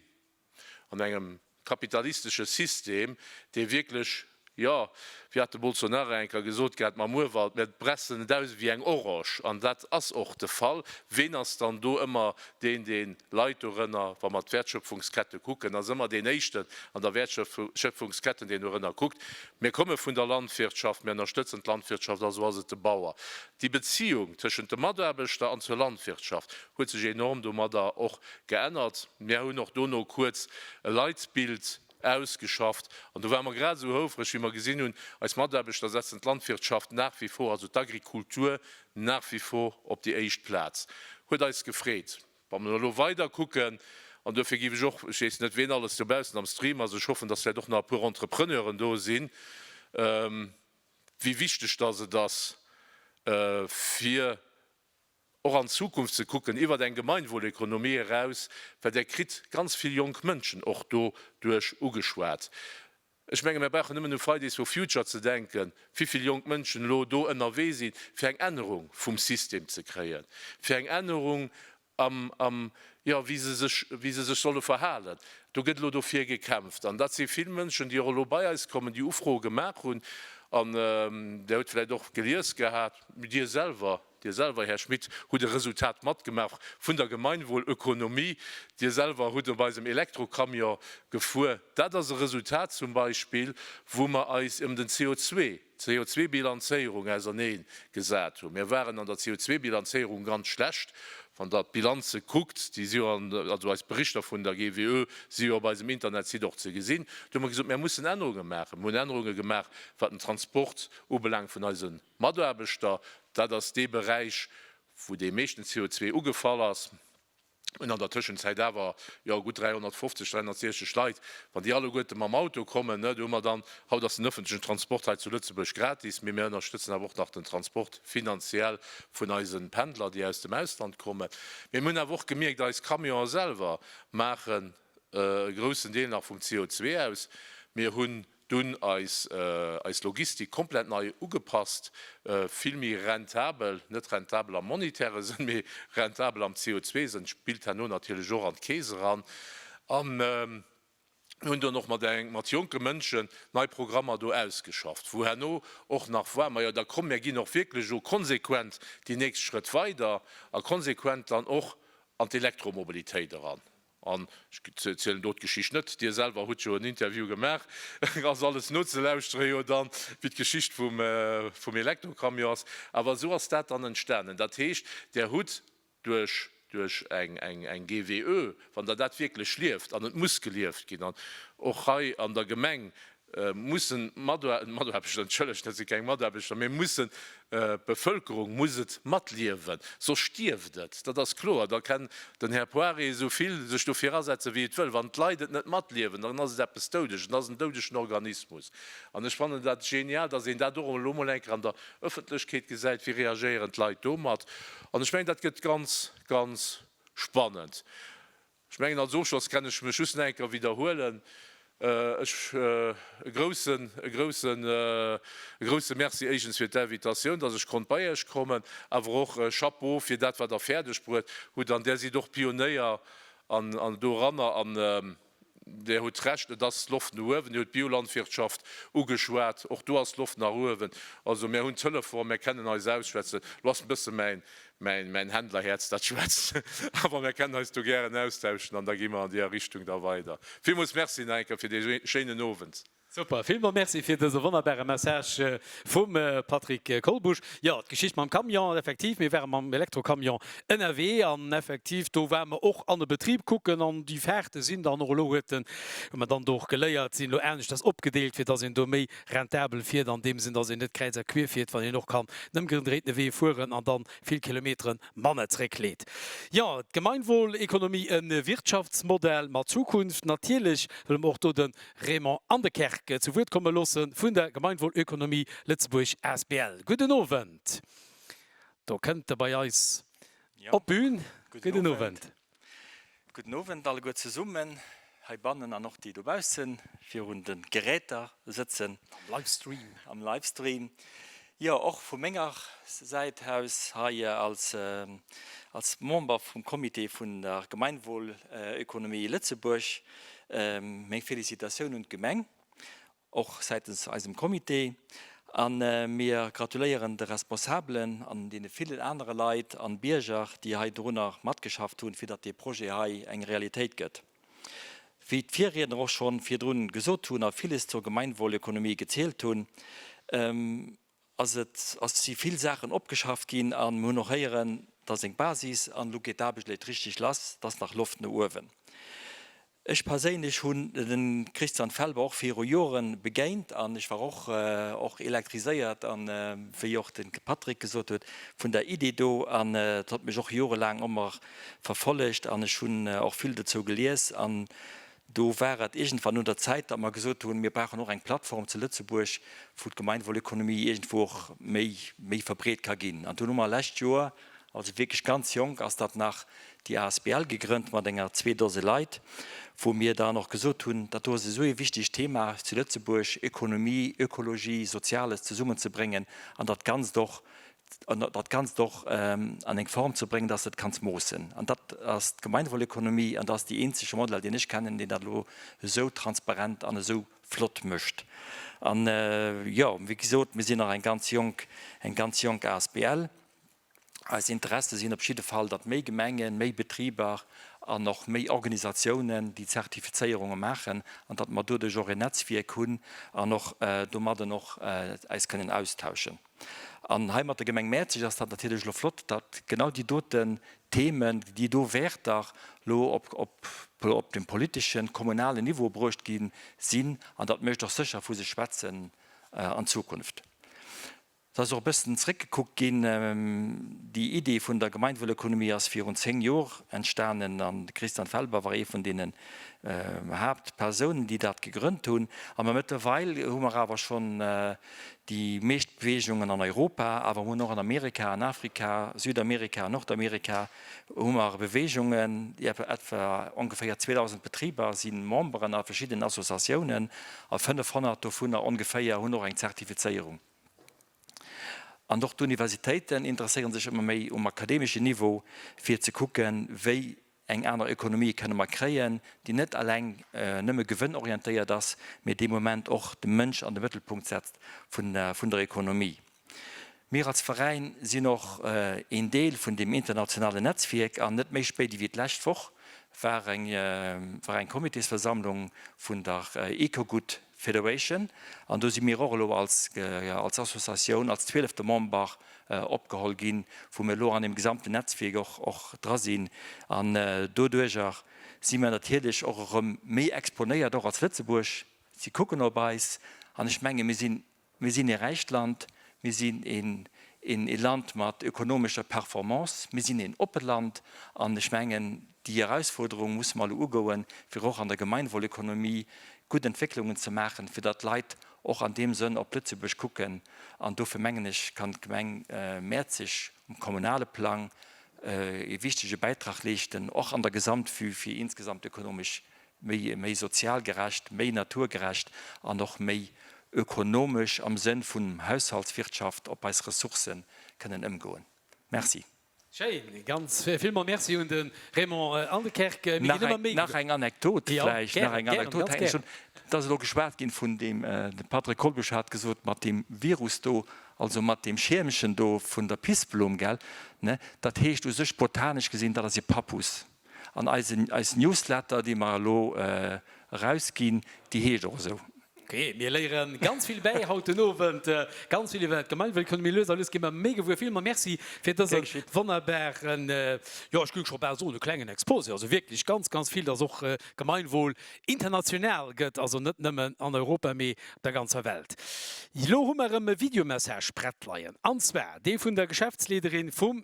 Speaker 1: An engem kapitalistesche System, dee wierklech, jo, wéi hat de Bolsonaro eng Kéier gesot gehat mam Urwald, mir pressen et aus ewéi eng Orosch, an dat ass och de Fall, ween ass dann do ëmmer deen, dee leit dorënner? Wa mer d'Wäertschöpfungskette kucken, ass ëmmer deen Éischten an der Wäertschöpfungsketten, deen dorënner kuckt. Mir komme vun der Landwirtschaft, mir ënnerstëtzen d'Landwirtschaft, also ass et de Bauer. Déi Beziung tëschent dem Mataarbechter an zur Landwirtschaft huet sech enorm domadder och Geännert. Mär hunn och dono kuerz e Leitbild ausgeschafft an do ware mer grad esou houfreg, wéi mer gesinn hunn, eis Mataarbechter setzen d'Landwirtschaft nach wie vor, also d'Agrikultur nach wie vor op déi éischt Plaz. Huet eis gefreet. Wa mer elo weider kucken, an duerfir géif ech och, ech weess net, wien alles dobaussen am Stream ass, ech hoffen, dass vläicht och nach e puer Entrepreneuren do sinn, wéi wichteg dass et ass fir och an d'Zukunft ze kucken, iwwert eng Gemeinwohleconomie eraus, well Der kritt ganz vill jonk Mënschen och doduerch ugeschwat. Ech menge mir brauchen nëmmen u Fridays for Future ze denken, wéivill jonk Mënschen elo do ënnerwee sinn, fir eng Ännerung vum System ze kréien, fir eng Ännerung am, am, jo, wéi se sech, wéi se sech solle verhalen. Do gëtt elo dofir gekämpft. An dat si vill Mënschen, déi och elo bei eis kommen, déi Ufroe gemaach hunn. An Der hutt vläicht och gelies gehat, Dir selwer, Dir selwer, Här Schmit, hutt e Resultat matgemaach vun der Gemeinwohlökonomie. Dir selwer hutt op eisem Elektrocamion gefuer. Dat ass e Resultat zum Beispill, wou mer eis ëm den CO, d'CO2-Bilanzéierung auserneen gesat hunn. Mir waren an der CO2-Bilanzéierung ganz schlecht. Wann Der d'Bilanze kuckt, déi si jo an, also eis Berichter vun der GWÖ si jo op eisem Internetsite och ze gesinn. Do hu mer gesot, Mir mussen Ännerunge maachen. Mir hunn Ännerunge gemaach, wat den Transport ubelaangt vun eisen. Mataarbechter, dat ass dee Beräich, wou dee meeschten CO2 ugefall ass, hunn an der Tëschenzäit awer, jo, gutt 350, 360 Leit, wann déi alleguerte mam Auto kommen, do hu mer dann, haut ass den ëffentlechen Transport hei zu Lëtzebuerg gratis, mee mir ënnerstëtzen awer och nach den Transport finanziell vun eise Pendler, déi aus dem Ausland kommen. Mee mir hunn awer och gemierkt, eis Camionen selwer maachen e groussen Deel nach vum CO2 aus. Mir hunn Dunn eis eis Logistik komplett nei ugepasst, vill méi rentabel, net rentabel am monetäre Sënn, mee rentabel am CO2-Sënn, spillt herno natierlech och an d'Keess eran. An mir hunn dunn och mat eng mat jonke Mënschen nei Programmer do ausgeschafft, wou herno och nach war, majo da komm mir ginn och wierklech elo konsequent déi nächst Schrëtt weider a konsequent dann och an d'Elektromobilitéit eran. An ech zielen do d'Geschicht net, Dir selwer hutt jo en Interview gemaach, ass alles nozelauschtere jo dann, wéi d'Geschicht vum Elektrocamion ass. Awer esou ass dat dann entstanen. Dat heescht, Der hutt duerch eng GWÖ, wann Der dat wierklech lieft, an et muss gelieft ginn, an och hei an der Gemeng mussen d'Mataarbechter, entschëllegt, dat si keng Mataarbechter, mee mussen, d'Bevëlkerung muss et matliewen, soss stierft et, dat ass kloer. Da kann den Här Poirier esou vill sech dofir asetzen, wéi et wëll, wann d'Leit et net matliewen, dann ass et eppes Doudeges, et ass en doudegen Organismus. An ech fannen dat genial, datt een dat och elo emol eng Kéier an der Ëffentlechkeet gesäit, wéi reagéieren d'Leit domat. An ech mengen, dat gëtt ganz, ganz spannend. Ech mengen, als Ofschloss kann ech mech just nach eng Kéier widderhuelen, ech, e groussen, e groussen, e grousse Merci éigens fir d'Invitatioun, dass ech konnt bei Iech kommen, awer och Chapeau fir dat, wat Der fäerdeg bruet hutt. An Der sidd och Pionéier an, an doranner, an Der hutt Recht, et ass d'Loft no uewen. Dir hutt d'Biolandwirtschaft ugeschwat, och do ass d'Loft nach uewen. Also mär hunn d'Telefon, mär kennen eis ausschwätzen. Elo ass e bësse mäin, Mäin Händlerhäerz dat schwätzt awer, mär kennen eis do gären austauschen an da gi mer an deer Richtung da weider. Villmools Merci nach eng Kéier fir dee schéinen Owend. Super, villmols Merci fir dëse wonnerbare Message vum Patrick Kolbusch. Jo, d'Geschicht mam Camion, effektiv, mir ware mam Elektrocamion ënnerwee an effektiv do ware mer och an e Betrib kucken an déi Fahrten sinn dann och, elo huet den, huet mer dann do och geléiert, sinn elo aneschters opgedeelt, fir dass een do méi rentabel fiert, an deem Sënn, dass een net kräiz a quier fiert, wann een och kann nëmme gedréitene Wee fueren an dann vill Kilometere manner zréckleet. Jo, d'Gemeinwohlekonomie, e Wirtschaftsmodell mat Zukunft. Natierlech wëlle mer och do de Raymond Anekerk zu Wuert komme loosse vun der Gemeinwohlekonomie Lëtzebuerg asbl. Gudden Owend. Do kënnt e bei eis op d'Bün. Gudden Owend. Gudden Owend alleguer zesummen heibannen an och déi dobausse virun de Geräter sëtzen. Am Livestream. Am Livestream. Jo, och vu menger Säit aus hei als Member vum Comité vun der Gemeinwohlökonomie Lëtzebuerg meng Felicitatioun un d'Gemeng. och säitens eisem Comité, a mir gratuléieren de Responsabelen an deene villen anere Leit an Bierger, déi hei dorunner matgeschafft hunn, fir datt dee Projet hei eng Realitéit gëtt. Wéi d'Virriedner och schonn virdrun gesot hunn a villes zur Gemeinwohlökonomie gezielt hunn, ass et ass si vill Saachen opgeschafft ginn a mir hunn och héieren, dass eng Basis an elo geet d'Aarbecht elek richtig lass, dass nach Loft no uewen. Ech perséinlech hunn den Christian Felber och viru Jore begéint an ech war och och elektriséiert an wéi och den Patrick gesot huet vun der Idee do an et hott mech och jorelaang ëmmer verfollegt an ech hunn och vill dozou gelies an Do war et iergendwann un der Zäit, datt mer gesot hunn, mir brauchen och eng Plattform zu Lëtzebuerg, wou d'Gemeinwohlökonomie iergendwou och méi, méi verbreet ka ginn. An dunn hu mer lescht Joer, also wierklech ganz jonk ass dat nach, déi asbl gegrënnt mat enger zwee Dose Leit, wou mir dann och gesot hunn, dat do ass esou ee wichtegt Thema zu Lëtzebuerg, Ökonomie, Ökologie, Soziales zesummenzebréngen an dat Ganzt och dat Ganzt och an eng Form ze bréngen, dass de et kanns moossen. An dat ass d'Gemeinwohlökonomie an dat ass déi eenzege Modell, deen ech kennen, deen dat elo esou transparent an esou flott mécht. An, jo, wéi gesot, mir sinn nach eng ganz jonk, eng ganz jonk asbl. Eis Interesse sinn op jidde Fall, datt méi Gemengen, méi Betriber an och méi Organisatiounen déi Zertifizéierunge maachen an datt mer doduerch och en Netzwierk hunn an och domadden och eis kënnen austauschen. An hei mat der Gemeng Mäerzeg ass dat natierlech elo flott, datt genau déi doten Themen, déi do Wäerter elo op de politeschen, kommunalen Niveau bruecht gi sinn. An dat mécht och sécher vu sech schwätzen an Zukunft. Et ass och e bëssen zeréckgekuckt ginn. Déi Iddi vun der Gemeinwuelökonomie ass virun zéng Jor entstanen an de Christian Felber war ee vun deene Haaptpersounen, déi dat gegrënnt hunn. A mä mëttlerweil hu mer awer schonn Déi meescht Beweegungen an Europa, awer mer hunn och an Amerika, an Afrika, Südamerika an Nordamerika hu mer Beweegungen. Etwa ongeféier 2.000 Betriber si Memberen a verschiddenen Associatiounen a 500 dovunner ongeféier hunn och eng Zertifizéierung. An och d'Universitéiten interesséiere sech ëmmer méi um akademeschen Niveau, fir ze kucken, wéi eng aner Ökonomie kënne mer kréien, déi net eleng nëmme gewënnorientéiert ass, mee dee Moment och de Mënsch an de Mëttelpunkt setzt vun der Ökonomie. Mir als Veräin sinn och een Deel vun deem internationalen Netzwierk an net méi spéit ewéi d'lescht Woch war eng Comitésversammlung vun der Ecogut Federation, an do si mir och elo als als Associatioun, als zwielefte Member opgeholl ginn, wou mir elo an deem gesamten Netzwierk och och dra sinn. An doduerjer si mir natierlech och erëm méi exponéiert, och als Lëtzebuerg. Si kucken op eis an ech menge mir sinn Mir sinn ee räicht Land, mir sinn ee Land mat ökonomescher Performance, mir sinn een oppe Land. An ech mengen, déi Erausforderung musse mer elo ugoen, fir och an der Gemeinwohlökonomie gutt Entwécklungen ze maachen, fir datt d'Leit och an deem Sënn op Lëtzebuerg kucken. An dofir mengen ech, kann d'Gemeng Mäerzeg um kommunale Plang ee wichtege Bäitrag leeschten, och an der Gesamtvue fir insgesamt ökonomesch méi, méi sozial gerecht, méi naturgerecht an och méi ökonomesch am Sënn vun Haushaltswirtschaft op eis Ressourcë kënnen ëmgoen. Merci. Schéin, ganz villmols Merci un de Raymond Anekerk. Mir ginn ëmmer méi. Nach eng Anekdot vläicht, nach eng Anekdot hätt ech. Et ass elo geschwat ginn vun deem, de Patrick Kolbusch hat gesot, mat deem Virus do, also mat deem Schiermchen do vun der Pissblom, gell, ne? Dat heescht u sech botanesch gesinn, dat ass e Pappus. An eis Newsletter, déi mer elo erausginn, déi heescht och esou. Ok, mir léieren ganz vill bäi haut den Owend, ganz vill iwwer d'Gemeinwuelkommen. Mee lues a lues gi mer méi gewuer. Villmols merci fir dëse wonnerbaren, jo ech géif scho bal soen e klengen Exposé. Also wierklech ganz, ganz vill, dass och Gemeinwohl international gëtt, also net nëmmen an Europa, mee op der ganzer Welt. Elo hu mer erëm e Videomessage prett leien, an zwar dee vun der Geschäftsleederin vum.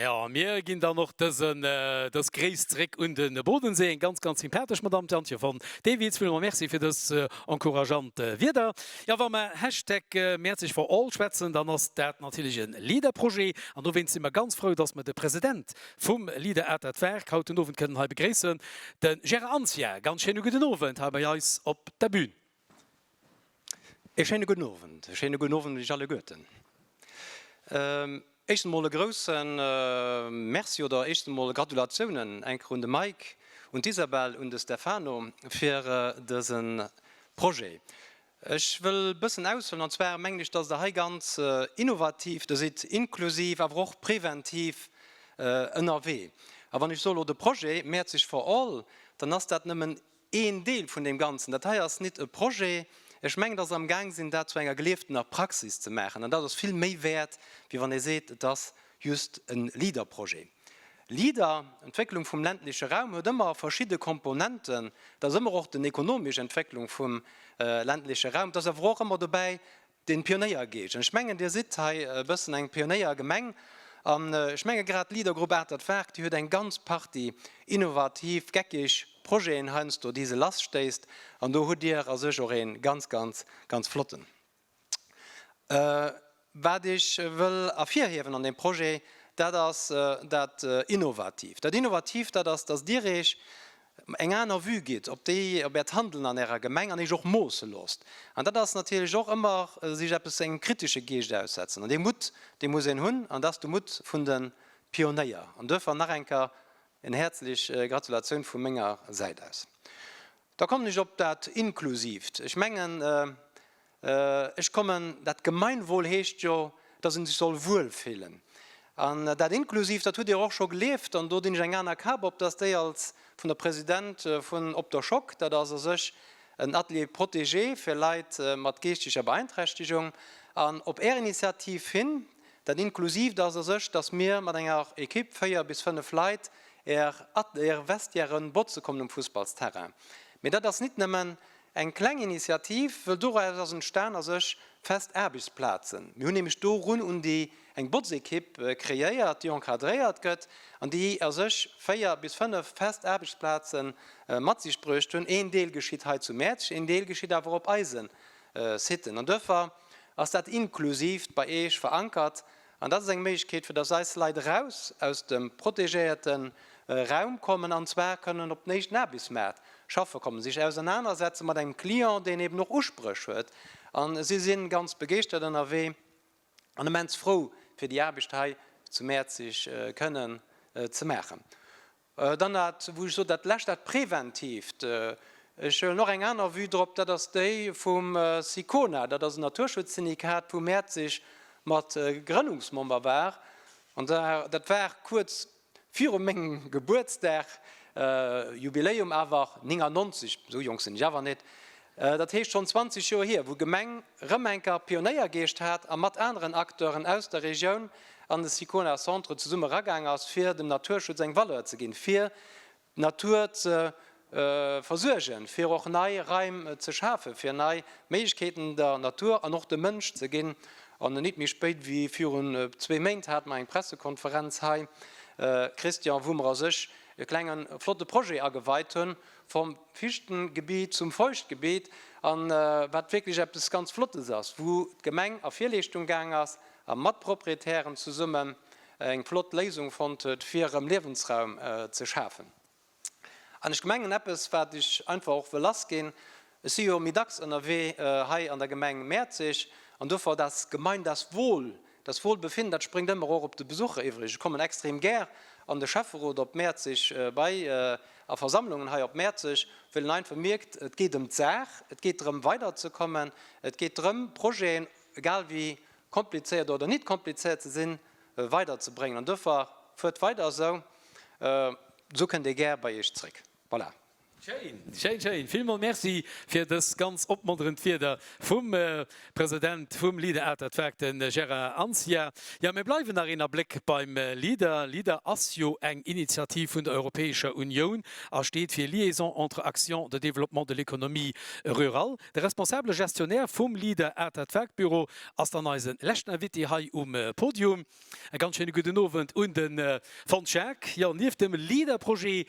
Speaker 1: Jo, a mir ginn dann och dësen, dës Gréiss zréck un de Bodensee. Eng ganz, ganz sympathesch Madamm, d'Jantje von Dewitz. Villmols Merci fir dës encourageant Wierder. Jo, wa mer Hashtag MeHerzeGForAll schwätzen, dann ass dat natierlech e LEADER-Projet. An dowéinst si mer ganz frou, dass mer de President vum LEADER-Atert-Werk haut den Owend kënnen hei begréissen, de Gérard Anzia. Ganz schéine gudden Owend hei bei eis op der Bühn. E schéine gudden Owend. E schéine gudden Owend un iech alleguerten. Éischtens emol e grouse Merci oder éischtens emol Gratulatiounen eng Kéier un de Mike, un d'Isabelle, un de Stefano fir dëse Projet. Ech wëll e bëssen aushuelen, an zwar mengen ech, datt Der hei ganz innovativ do sidd, inklusiv awer och preventiv ënnerwee. A wann ech sou elo de Projet Mäerzeg for all, dann ass dat nëmmen een Deel vun deem Ganzen. Dat hei ass nit e Projet. Ech mengen, dass am Gaang sinn, dat zu enger gelieftener Praxis ze maachen. An dat ass vill méi wäert, wéi wann ee seet, et ass just e Leader-Projet. Leader, Entwécklung vum ländleche Raum huet ëmmer verschidde Komponenten. Dat ass ëmmer och den ekonomesch Entwécklung vum ländleche Raum. Et ass awer och ëmmer dobäi Den Pionéiergeescht, an ech mengen Dir sidd hei e bëssen eng Pionéiergemeng, an ech menge grad d'Leadergrupp Atert Werk, déi huet eng ganz Partie innovativ, geckig Projeten heiansdo, déi se lasstéisst, an do hutt Dir a sech och ee ganz, ganz, ganz flotten. Wat ech wëll ervirhiewen an deem Projet, dat ass dat Innovativt. Dat Innovativt, dat ass, dass Dir Iech eng aner Vue gitt op déi, op Äert Handeln an Ärer Gemeng an Iech och moosse loosst. An dat ass natierlech och ëmmer sech eppes, engem kritesche Geescht aussetzen. An dee Mutt, dee muss een hunn, an dat ass de Mutt vun de Pionéier. An duerfir nach eng Kéier en häerzlech Gratulatioun vu menger Säit aus. Da kommen ech op dat Inklusiivt. Ech mengen, Ech kommen, dat Gemeinwohl heescht jo, dass een sech soll wuel fillen. An dat inklusiv, dat hutt Dir och scho gelieft. An do dinn ech eng aner Kap op, dass déi als vun der President vun Op der Schock, dat ass a sech en Atelier protégé fir Leit mat geeschteger Beeinträchtegung. An op Är Initiativ hin, dat inklusiv, dat ass a sech, dass mir mat enger Equipe, véier bis fënnf Leit, Är Vestiairen botze kommen um Fussballsterrain. Mee dat ass nit nëmmen Eng kleng Initiativ, wëll doraus ass entstan a sech fest Aarbechtsplazen. Mir hunn nämlech do run un déi eng Botzekipp kreéiert, déi encadréiert gëtt an déi a sech 4 bis 5 fest Aarbechtsplaze mat sich bruecht hunn. Een Deel geschitt hei zu Mäerzeg, een Deel geschitt awer op eise Siten an Dörfer. Ass dat inklusiv bei Iech verankert? An dat ass eng Méiglechkeet, fir dass eis Leit eraus aus dem protegéierte Raum kommen, an zwar kënnen op den éischten Aarbechtsmaart schaffe kommen, sech ausernanersetze mat engem Client, deen eeben och Uspréch huet. A si si ganz begeeschtert ënnerwee an immens frou, fir déi Aarbecht hei zu Mäerzeg kënnen ze maachen. Dann dat, wou ech sot, dat Lescht, dat Präventiivt. Ech huelen och eng aner Vue drop, dat ass déi vum SICONA. Dat ass en Naturschutzsyndikat, wou Mäerzeg mat Grënnungsmember war. An dat war kuerz viru mengem Gebuertsdag, Jubiläum awer, 99, esou jonk sinn ech awer net, Dat heescht schonn 20 Joer hier, wou d'Gemeng Remenker Pionéiergeescht hat a mat aneren Acteuren aus der Regioun an de Sicona Centre zesumme eragaang ass, fir dem Naturschutz eng Valeur ze ginn, fir d'Natur ze versuergen, fir och nei Raim ze schafen, fir nei Méiglechkeeten der Natur an och dem Mënsch ze ginn. An nit méi spéit wéi virun zwee Méint hate mer eng Pressekonferenz hei, Christian, wou mer a sech e klenge flotte Projet ageweit hunn, Vom Fichtengebiet zum Feuchtgebiet, an wat wierklech eppes ganz Flottes ass, wou d'Gemeng a Virleeschtung gaang ass a mat Proprietären zesummen eng flott Léisung fonnt huet, fir erëm Liewensraum ze schafen. An ech gemengen, eppes, wat ech einfach och wëll lassginn, Ech si jo méi dacks ënnerwee hei an der Gemeng Mäerzeg an dofir das Gemein, das Wohl, das Wohlbefinden, dat spréngt ëmmer och op de Besucher iwwreg. Ech kommen extrem gär an de Schäfferot op Mäerzeg bei a Versammlungen hei op Mäerzeg, well een einfach mierkt, et geet ëm d'Saach, et geet drëm weiderzekommen, et geet drëm Projeten, egal wéi komplizéiert oder nit komplizéiert se sinn, weiderzebréngen. An dofir fuert weider esou, esou kënnt ee gär bei Iech zréck. Voilà. Schéin, schéin, schéin! Villmols Merci fir dës ganz opmonterend Wieder vum President vum Leader Art at Work, de Gérard Anzia. Jo, mir bleiwen nach een Abléck beim Leader. Leader ass jo eng Initiativ vun der Europäescher Unioun a steet fir Liaison entre Actions de développement de l'économie rurale. De responsabele Gestionnaire vum Leader Art at Work Büro ass dann eise leschten Invité hei um Podium. E ganz schéine gudden Owend un de Fons Jacques. Jo, nieft dem LEADER-Projet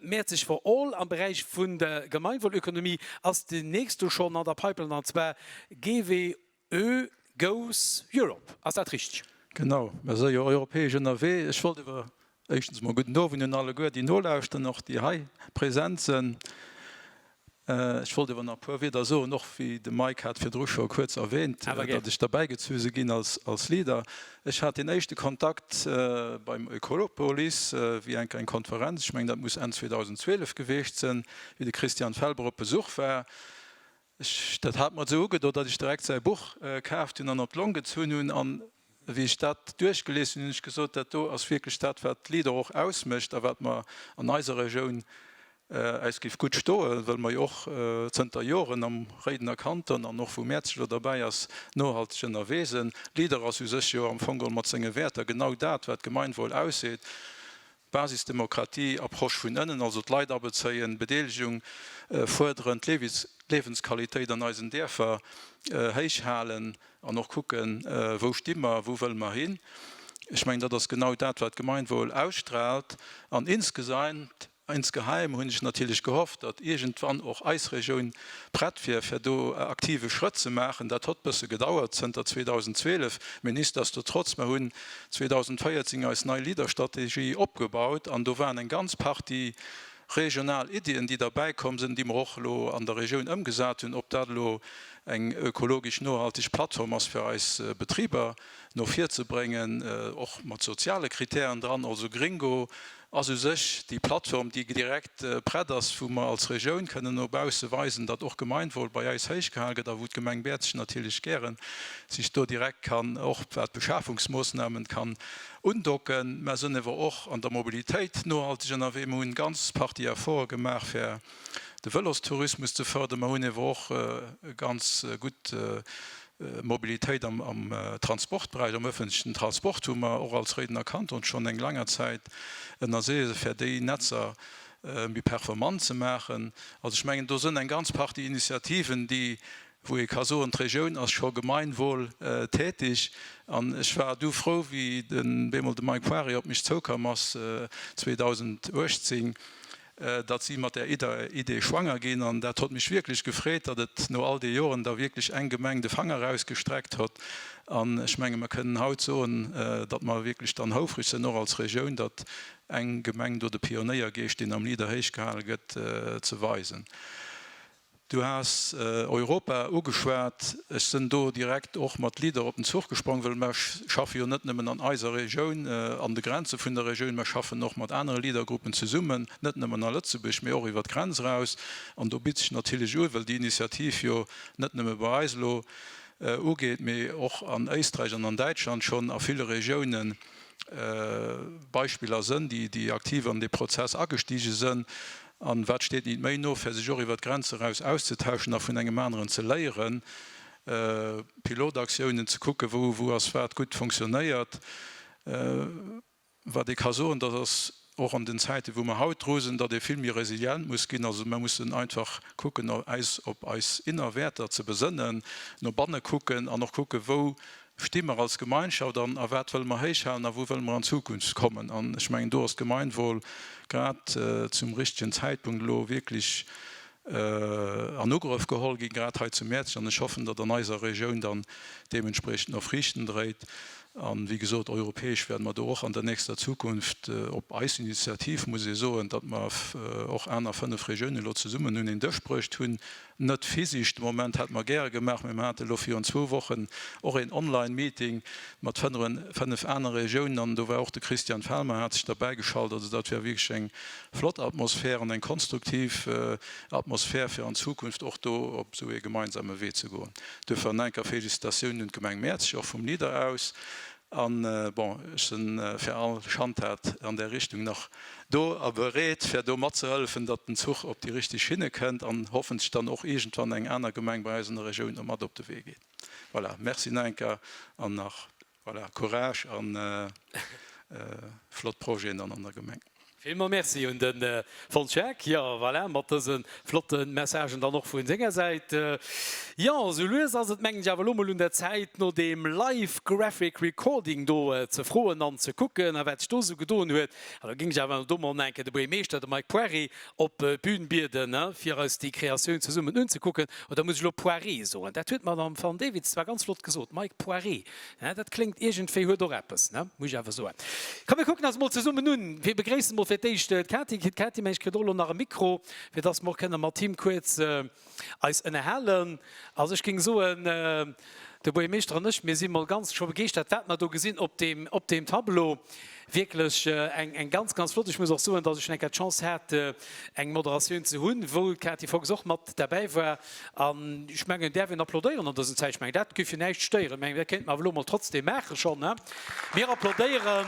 Speaker 1: Mäerzeg for all am Beräich vun der Gemeinwohlökonomie ass déi nächst do schonn an der Pipeline, an zwar GWÖ goes Europe. Ass dat richteg? Genau, mer si jo europäesch ënnerwee. Ech wollt iwwer Éischtens emol gudden Owend un alleguer, déi nolauschteren, och déi hei present sen. Ech wollt ewer nach e puer Wieder soen, och wéi de Mike hat virdru scho kuerz erwähnt, datt ech derbäigezu se gin als Leader. Ech hat deen éischte Kontakt beim Oekolopolis wéi enk eng Konferenz, ech mengen, dat muss Enn 2012 geweecht sen, wéi de Christian Felber op Besuch war. Dat hat mer esou ugedot, datt ech direkt säi Buch kaaft hunn an op d'Long gezunn hunn. An wéi ech dat duerchgelies hunn, hunn ech gesot, dat do ass wierklech dat, wat d'Leader och ausmécht a wat mer an eiser Regioun äis géif gutt stoe, well mer jo och zënter Joren am Réidener Kanton, an och wou Mäerzeg elo derbäi ass, nohalteg ënnerwee sinn. Leader ass u sech jo am Fong geholl mat senge Wäerter genau dat, wat d'Gemeinwohl ausseet. D'Basisdemokratie, Approche vun ënnen, also d'Leit abezéien, Bedeelegung fuerderen, d'Liewensqualitéit an eisen Däerfer héich halen an och kucken, wou sti mer, wou wëlle mer hin. Ech mengen, dat ass genau dat, wat d'Gemeinwohl ausstraalt. An insgesaint, insgeheim hunn ech natierlech gehofft, datt iergendwann och eis Regioun prett wier, fir do e aktive Schrëtt ze maachen. Dat hott bësse gedauert zënter 2012, mee nichtsdestotrotz, mer hunn 2014 eis nei Leaderstrategie opgebaut an do waren eng ganz Partie regional Iddien, déi derbäi komm sinn, déi mer och elo an der Regioun ëmgesat hunn. Ob dat elo eng ökologesch nohalteg Plattform ass fir eis Betriber no vir ze bréngen, och mat soziale Kritären dran, also Gringo, ass u sech déi Plattform, déi direkt prett ass, wou mer als Regioun kënnen no bausse weisen, datt och Gemeinwohl bei eis héichgehal gëtt a wou d'Gemeng Bäerzechen natierlech gäre sech do direkt kann, och wat d'Beschafungsmoossnamen kann undocken. Mer sënn ewer och an der Mobilitéit nohalteg ënnerwee. Mer hunn ganz Partie Efforte gemaach fir de Vëlostourismus ze fërderen. Mer hunn ewer och e ganz gutt Mobilitéit am Transportberäich, am öffentlechen Transport hu mer och als Réidener Kanton schonn eng langer Zäit ënnersicht, fir déi Netzer méi performant ze maachen. Also ech mengen, do sënn eng ganz Partie Initiativen, déi, wou ee ka soen, d'Regioun ass scho gemeinwohl tätig. An ech war du frou, wéi bemol de Mike Poirier op mech zoukomm ass 2018, datt si mat där Idee schwanger ginn. An dat hott mech wierklech gefreet, datt et no all de Joren da wierklech eng Gemeng de Fanger erausgestreckt hott. An ech menge mer kënnen haut soen, datt mer wierklech dann houfreg sënn och als Regioun, datt eng Gemeng do de Pionéiergeescht, deen am Leader héichgehale gëtt, ze weisen. Du has Europa ugeschwat. Ech sen do direkt och mat Leader op den Zuch gesprong, well mer schaffen jo net nemmen an eiser Regioun, an de Grenzen vun der Regioun, mer schaffen och mat anere Leadergruppen zesummen, net nemmen a Lëtzebuerg, mee och iwwert d'Grenz eraus. An do bitt sech natierlech un, well déi Initiativ jo net nemme bei eis elo ugeet, mee och an Éisträich an an Däitschland schon a ville Regiounen Beispiller sen, déi aktiv an dee Prozess agestigen sen. A wat steet nit méi no, fir sech och iwwert d'Grenze raus auszetauschen a vun engem aneren ze léieren, Pilotaktiounen ze kucke wou wou ass wat gutt funktionéiert. Wat ee ka soen, dat ass och an den Zäite wou mer haut dru sinn, datt ee vill méi resilient muss ginn. Also mer mussen einfach kucken eis op eis inner Wäerter ze besënnen, no banne kucken an och kucke wou sti mer als Gemeinschaft an a wat wëlle mer héichhalen a wou wëlle mer an Zukunft kommen. An ech mengen, do ass d'Gemeinwohl grad zum richtigen Zäitpunkt elo wierklech an Ugrëff geholl ginn, grad hei zu Mäerzeg. An ech hoffen, datt an eiser Regioun dann deementspriechend och Friichten dréit. A wéi gesot, europäesch wäerte mer do och an der nächster Zukunft, op eis Initiativ, muss ee soen, datt mer och aner fënnef Regiounen elo zesummen un een Dësch bruecht hunn, Net physisch, de Moment hätte mer gäre gemaach, mee mer hate lo virun zwou Wochen och een Online-Meeting mat fënnef anere Regiounen an do war och de Christian Felmer hat sech derbäigeschalt. Also dat war wierklech eng flott Atmosphär an eng konstruktiv Atmosphär fir an Zukunft och do op esou ee gemeinsame Wee ze goen. Duerfir an enker Félicitatiounen un d'Gemeng Mäerzeg och vum Leader aus. A bon, ech se fir all Schandtat an där Richtung nach do a bereet, fir do matzehëllefen, datt den Zuch op déi richteg Schinne kënnt an hoffentlech dann och iergendwann eng aner Gemeng bei eis an der Regioun do mat op de Wee geet. Voilà, Merci nach eng Kéier an nach, voilà, Courage a flott Projeten dann an der Gemeng. Villmols Merci un den Fons Schaack. Jo, voilà, mat dësen flotten Messagen dann och vun senger Säit. Jo, sou lues ass et mengen ech awer elo mol un der Zäit no deem Live Graphic Recording do ze froen an ze kucken a wat sech do sou gedoen huet. An da géing ech awer elo do mol enke de Buergermeeschter, de Mike Poiré, op d'Bühn bieden, he, fir eis déi Kreatioun zesummen unzekucken. Oder muss ech elo Poiré soen? Dat huet d'Madame Van Dewitz zwar ganz flott gesot, Mike Poiré. Hä, dat kléngt iergendwéi, huet och eppes, ne, muss ech awer soen. Komm, mir kucken eis mol zesummen un. Mir begréissen mol fir d'éischt d'Kati. D'Kati, mengen ech, kritt och elo nach e Mikro, fir dass mer och kënnen mat him kuerz eis ënnerhalen. Also, ech géing soen, de Buergermeeschter an ech, mir si mol ganz scho begeeschtert, wat mer do gesinn op deem, op deem Tableau. Wierklech eng ganz, ganz flott. Ech muss och soen, datt ech schonn eng Kéier d'Chance hat, eng Moderatioun ze hunn, wou d'Kati Fox och mat derbäi war. An ech mengen, et däerf een applaudéieren an dësen Zäiten. Ech mengen, dat géif jo näischt stéieren. Ech mengen, dat kéinte mer awer elo emol trotzdem maachen schonn, hä? Mir applaudéieren.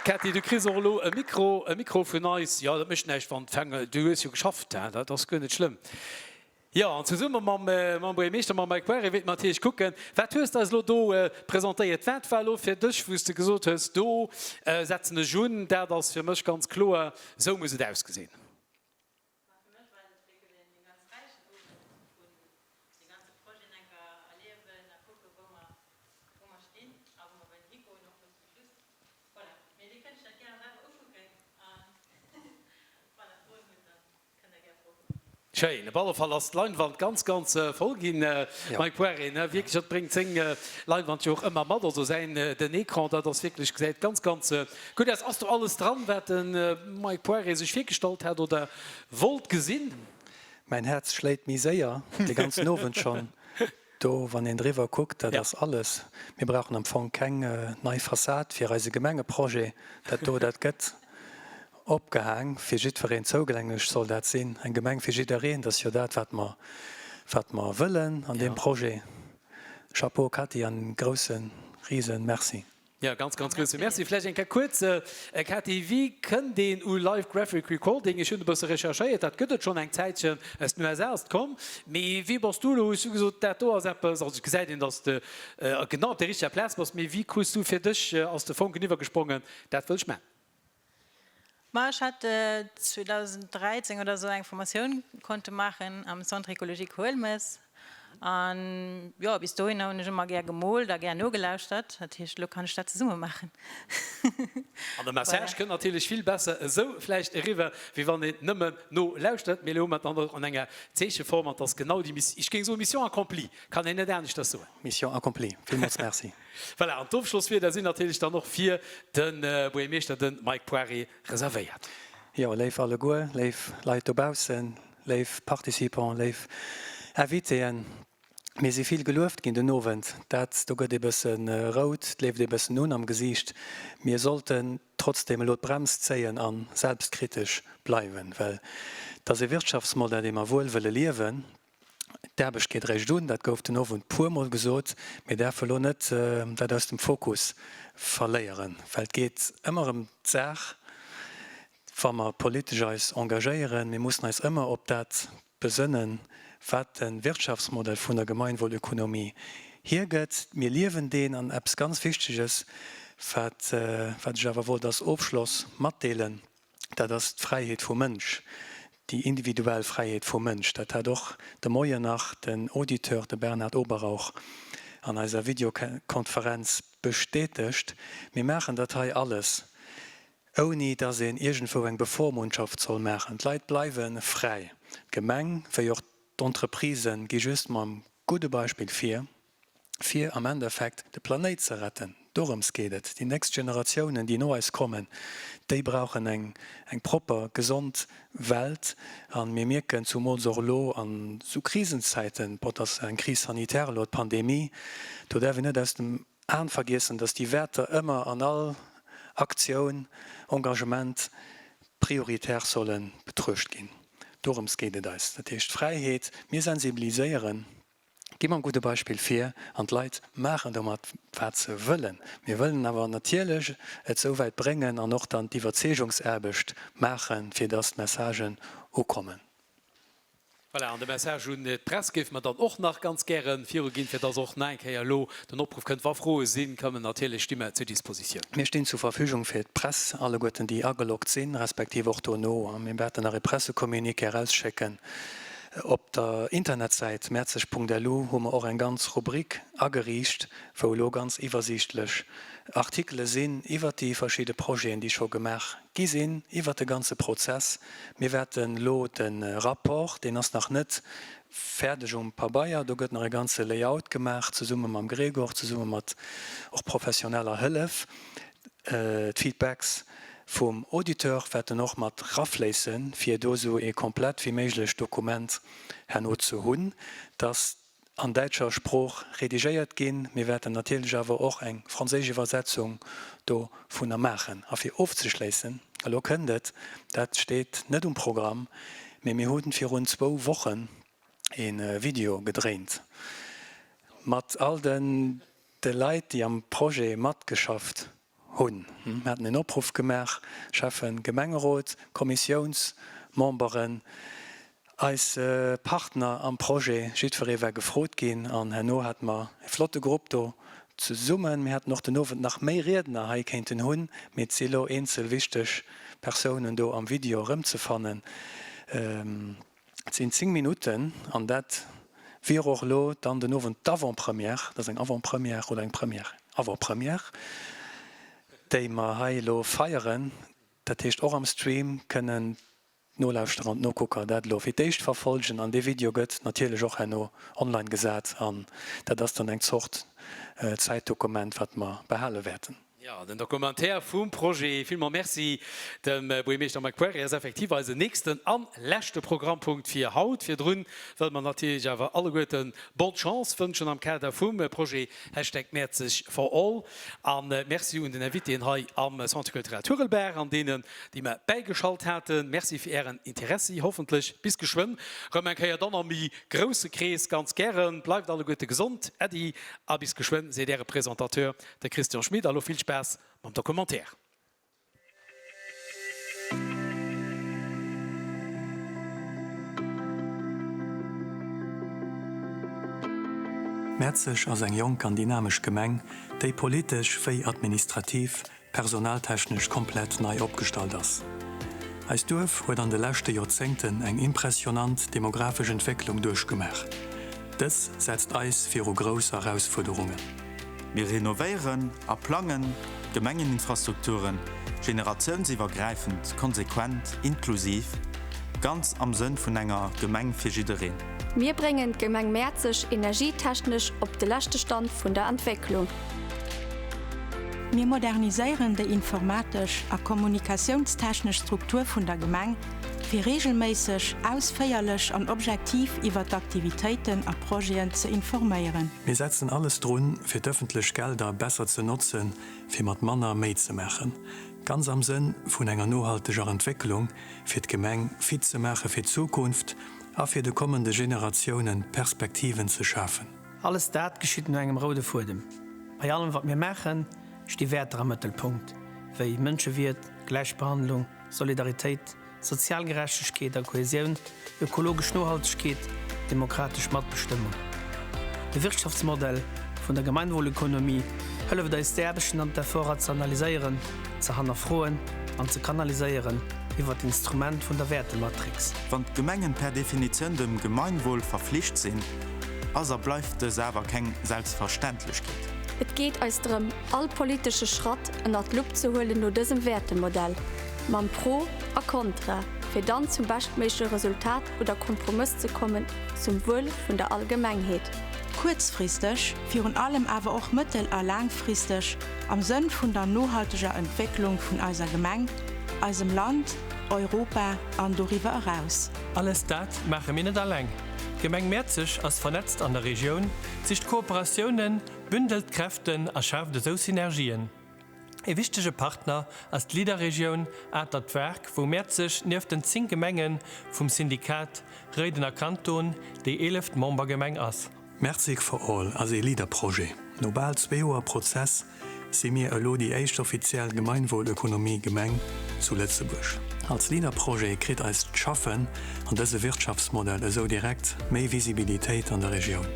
Speaker 1: Kati, du kriss och elo e Mikro, e Mikro vun eis. Jo, dat mécht näischt, wann d'Fänger. Du hues jo geschafft, hä? Dat ass guer net schlëmm. Jo, an zesumme mam Buergermeeschter, mam Mike Boery, wéilt mer natierlech kucken, wat hues de eis elo do presentéiert? Wat war elo fir dech, wou s de gesot hues, do setzen ech un, dat ass fir mech ganz kloer, esou muss et ausgesinn? Schéin, op alle Fall ass d'Leinwand ganz ganz voll gin. Mike Poiré, wierklech, dat bréngt séng Leinwand jo och ëmmer mat, also säin, den Ecran, dat ass wierklech, gesäit ganz ganz gudd aus. Ass do alles dran, wat de Mike Poiré sech virgestallt hat oder wollt gesin? Mäin Häerz schléit méi séier, de ganzen Owend schon. Do, wann een driwwer kuckt, dat ass alles. Mir brauchen am Fong keng nei Fassad fir eise Gemengeprojet. Dat do, dat gëtt Opgehaang, fir jiddwereen zougänglech soll dat sinn, eng Gemeng fir jiddereen, dat ass jo dat, wat mer, wat mer wëllen an deem Projet. Chapeau Cathy an en groussen, riesen Merci. Jo, e ganz, ganz grousse Merci. Vläicht eng Kéier kuerz, Cathy, wéi kënnt een u Live Graphic Recording? Ech hunn e bësse recherchéiert, dat gëtt et schonn eng Zäitchen, aus den USA ass et komm. Mee wéi bass du elo, hues du gesot, dat do ass eppes, also gesäit een, datt s de genau op der richteger Plaz bass, mee wéi krus du fir dech, ass de Fonken iwwergesprongen, dat wëll ech maachen? Ma ech hat 2013 oder esou eng Formatioun konnte maachen am Centre Ecologique Huelmes. An jo, bis dohinner hunn ech ëmmer gär gemoolt a gär nogelauschtert. Dat heescht, elo kann ech dat zesumme maachen. An de Message kënnt natierlech vill besser esou vläicht eriwwer, wéi wann een nëmmen nolauschtert. Mee elo hu mer et dann och an enger Zeecheform. An 't ass genau déi, ech géing soen, Mission accomplie, kann een net aneschters soen. Mission accomplie, villmools Merci. Voilà, an d'Ofschlosswierder sinn natierlech dann och fir de Buergermeeschter, de Mike Poiré, reservéiert. Jo, léif alleguer, léif Leit dobaussen, léif Participants, léif Invitéen, mir si vill gelueft ginn den Owend. Dat do gëtt ee bësse rout, d'leeft ee bëssen un am Gesiicht. Mir sollten trotzdeem elo d'Brems zéien a selbstkritesch bleiwen, well et ass ee Wirtschaftsmodell, dee mer wuel wëlle liewen. D'Aarbecht geet eréischt un, dat gouf den Owend puermol gesot. Mir däerfen elo net dat aus dem Fokus verléieren, well et geet ëmmer ëm d'Saach, wa mer politesch eis engagéieren. Mir mussen eis ëmmer op dat besënnen, wat de Wirtschaftsmodell vun der Gemeinwohlökonomie hiergëtt. Mir liewen deen. An eppes ganz Wichteges, wat ech awer wollt als Ofschloss matdeelen, dat ass d'Fräiheet vum Mënsch, déi individuell Fräiheet vum Mënsch. Dat hat och de Moien nach den Auditeur, de Bernhard Oberrauch, an eiser Videokonferenz bestätegt. Mir maachen dat hei alles, ouni datt een iergendwou eng Bevormundschaft soll maachen. D'Leit bleiwe fräi. D'Gemeng wéi och d'Entreprisen gi just mam gudde Beispill vir. fir am Endeffekt de Planéit ze retten. Dorëms geet et. Déi nächst Generatiounen, déi no eis kommen, déi brauchen eng propper, gesond Welt. A mir mierken, zumools och elo a sou Krisenzäiten, bon, et ass eng Crise sanitaire elo, d'Pandemie, do däerf een net aus dem Aen vergiessen, datt déi Wäerter ëmmer an all Aktioun, Engagement prioritär solle betruecht ginn. Dorëms geet et eis. Dat heescht Fräiheet. Mir sensibiliséieren. Gi mam gudde Beispill vir an d'Leit maachen domat, wat se wëllen. Mir wëllen awer natierlech et souwäit bréngen an och dann d'Iwwerzeegungsaarbecht maachen, fir dass d'Messagen ukommen. Voilà, an de Message un d'Press géife mer dann och nach ganz gäre viruginn, fir dass och nach eng Kéier elo den Opruff kënnt, Wa Froe sinn, kommen natierlech, sti mer zur Dispositioun. Mir stinn zur Verfügung fir d'Press, alleguerten, déi ageloggt sinn, respektiv och dono. Mir wäerten nach ee Pressecommuniqué erausschécken. Op der Internetsäit merzeg.lu hu mer och eng ganz Rubrik ageriicht, wou elo ganz iwwersiichtlech Artikele sinn iwwert déi verschidde Projeten, déi scho gemaach gi sinn, iwwert de ganze Prozess. Mir wäerte lo de Rapport, deen ass nach net fäerdeg um Pabeier, do gëtt nach e ganze Layout gemaach, zesumme mam Gregor, zesumme mat och professioneller Hëllef, d'Feedbacks vum Auditeur wäerten och mat rafléissen, fir do esou ee komplett wéi méiglech Dokument herno ze hunn, dat an däitscher Sprooch redigéiert ginn. Mir wäerten natierlech awer och eng franséisch Iwwersetzung dovunner maachen. A fir ofzeschléissen, elo kënnt et, dat steet net um Programm, mee mir hu virun zwou Wochen ee Video gedréint mat all de. de Leit, déi am Projet matgeschafft hunn. Mir haten en Opruff gemaach, Schäffen, Gemengerot, Kommissiounsmemberen, eis Partner am Projet, jiddweree war gefrot ginn an herno hate mer e flotte Grupp do zesummen. Mir hätten och den Owend nach méi Riedner hei kéinten hunn, mee et si lo eenzel wichteg Persounen do am Video erëmzefannen. Et sinn 10 Minutten an dat wier och elo dann den Owend d'Avant-Première, dat ass eng Avant-Première oder eng Première, Avant-Première, déi mer hei elo feieren. Dat heescht och am Stream kënnen nolauschteren an nokucker, dat elo fir d'éischt verfolgen. An dee Video gëtt natierlech och herno online gesat an dat ass dann eng Zort Zäitdokument, wat mer behale wäerten. Jo, den Documentaire vum Projet. Villmols Merci dem Buergermeeschter Mike Poirier. Ass effektiv eisen nächsten an leschte Programmpunkt fir haut. Virdrun wëlle mer natierlech awer alleguerten Bonne Chance wënschen am Kader vum Projet Hashtag Mäerzeg for all. An Merci un den Invitéen hei am Centre Culturel Turelberg an deenen, déi mer bäigeschalt haten. Merci fir ären Interessi. Hoffentlech bis geschwënn rëm eng Kéier, dann am méi grousse Krees. Ganz gären. Bleift alleguerte gesond. Äddi a bis geschwënn, seet äre Presentateur. De Christian Schmit, a lo vill Spaass mam Documentaire. Mäerzeg ass eng jonk an dynamesch Gemeng, déi politesch wéi administrativ, personaltechnesch komplett nei opgestallt ass. Eist Duerf huet an de leschte Joerzéngten eng impressionant demografesch Entwécklung duerchgemaach. Dës setzt eis viru grouss Erausfuerderungen. Mir renovéieren a plangen d'Gemengeninfrastrukturen generatiounsiwwergräifend, konsequent, inklusiv, ganz am Sënn vun enger Gemeng fir jiddereen. Mir bréngen d'Gemeng Mäerzeg energietechnesch op de leschte Stand vun der Entwécklung. Mir moderniséieren déi informatesch a kommunikatiounstechnesch Struktur vun der Gemeng, fir reegelméisseg, ausféierlech an objektiv iwwert d'Aktivitéiten a Projeten ze informéieren. Mir setzen alles drun, fir d'ëffentlech Gelder besser ze notzen, fir mat manner méi ze maachen, ganz am Sënn vun enger nohalteger Entwécklung, fir d'Gemeng fit ze maache fir d'Zukunft a fir de kommende Generatiounen Perspektiven ze schafen. Alles dat geschitt no engem roude Fuedem. Bei allem, wat mir maachen, sti Wäerter am Mëttelpunkt, wéi Mënschewiert, Gläichbehandlung, Solidaritéit, Sozial Gerechtegkeet a Kohäsioun, ökologesch Nohaltegkeet, demokratesch Matbestëmmung. De Wirtschaftsmodell vun der Gemeinwohlökonomie hëlleft eis d'Aarbechten an d'Efforter ze analyséieren, ze hannerfroen an ze kanaliséieren iwwert d'Instrument vun der Wäertematrix. Wann d'Gemengen per Definitioun dem Gemeinwohl verflicht sinn, ass a bleift dës awer keng Selbstverständlechkeet. Et geet eis drëm, all politesche Schratt ënnert d'Lupp ze huelen no dësem Wäertemodell. Mam Pro a Kontra, fir dann zum beschtméigleche Resultat oder Kompromëss ze kommen zum Wuel vun der Allgemengheet. Kuerzfristeg, virun allem awer och mëttel a laangfristeg, am Sënn vun der nohalteger Entwécklung vun eiser Gemeng, eisem Land, Europa an doriwwer eraus. Alles dat maache mir net alleng. D'Gemeng Mäerzeg ass vernetzt an der Regioun, sicht Kooperatiounen, bündelt Kräften a schaaft esou Synergien. Ee wichtege Partner ass d'Leader-Regioun Atert Waark, wou Mäerz sech nieft den 10 Gemenge vum Syndikat Réidener Kanton déi eeleft Membergemeng ass. Mertzig for All ass ee Leader-Projet. No bal zwee Joer Prozess si mir elo déi éischt offiziell Gemeinwohlökonomie-Gemeng zu Lëtzebuerg. Als Leader-Projet kritt eist Schaffen an dëse Wirtschaftsmodell esou direkt méi Visibilitéit an der Regioun.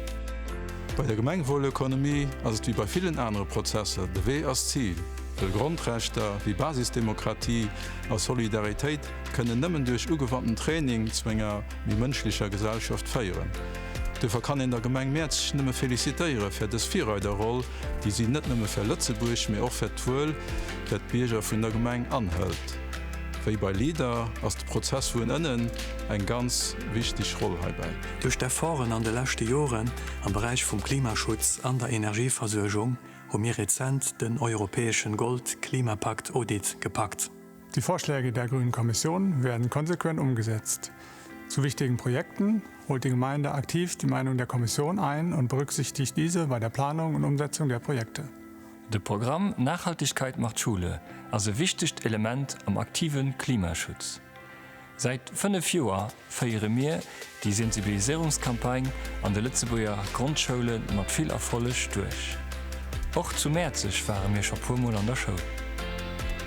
Speaker 1: Bei der Gemengewuelökonomie ass et wéi bei villen anere Prozesser, de Wee ass d'Zil, wëll Grondrechter wéi Basisdemokratie a Solidaritéit kënnen nëmmen duerch ugewandten Training zu enger méi mënschlecher Gesellschaft féieren. Duerfir kann een der Gemeng Mäerzeg nëmme félicitéiere fir dës Virreiderroll, déi si net nëmme fir Lëtzebuerg, mee och fir d'Wuel der d'Bierger vun der Gemeng anhëlt. Wéi bei LEADER ass de Prozess vun ënnen eng ganz wichteg Roll heibäi. Duerch d'Efforten an de leschte Joren am Beräich vum Klimaschutz an der Energieversuergung hu mir rezent den europäeschen Gold-Klimapakt Audit gepackt. Die Vorschläge der Grünen Kommission werden konsequent umgesetzt. Zu wichtigen Projekten holt die Gemeinde aktiv die Meinung der Kommission ein und berücksichtigt diese bei der Planung und Umsetzung der Projekte. De Programm Nachhaltigkeit macht Schule ass e wichtegt Element am aktive Klimaschutz. Säit fënnef Joer féiere mir déi Sensibiliséierungscampagne an de Lëtzebuerger Grondschoulle mat vill Erfolleg duerch. Och zu Mäerzeg ware mir scho puer Mol an der Schoul.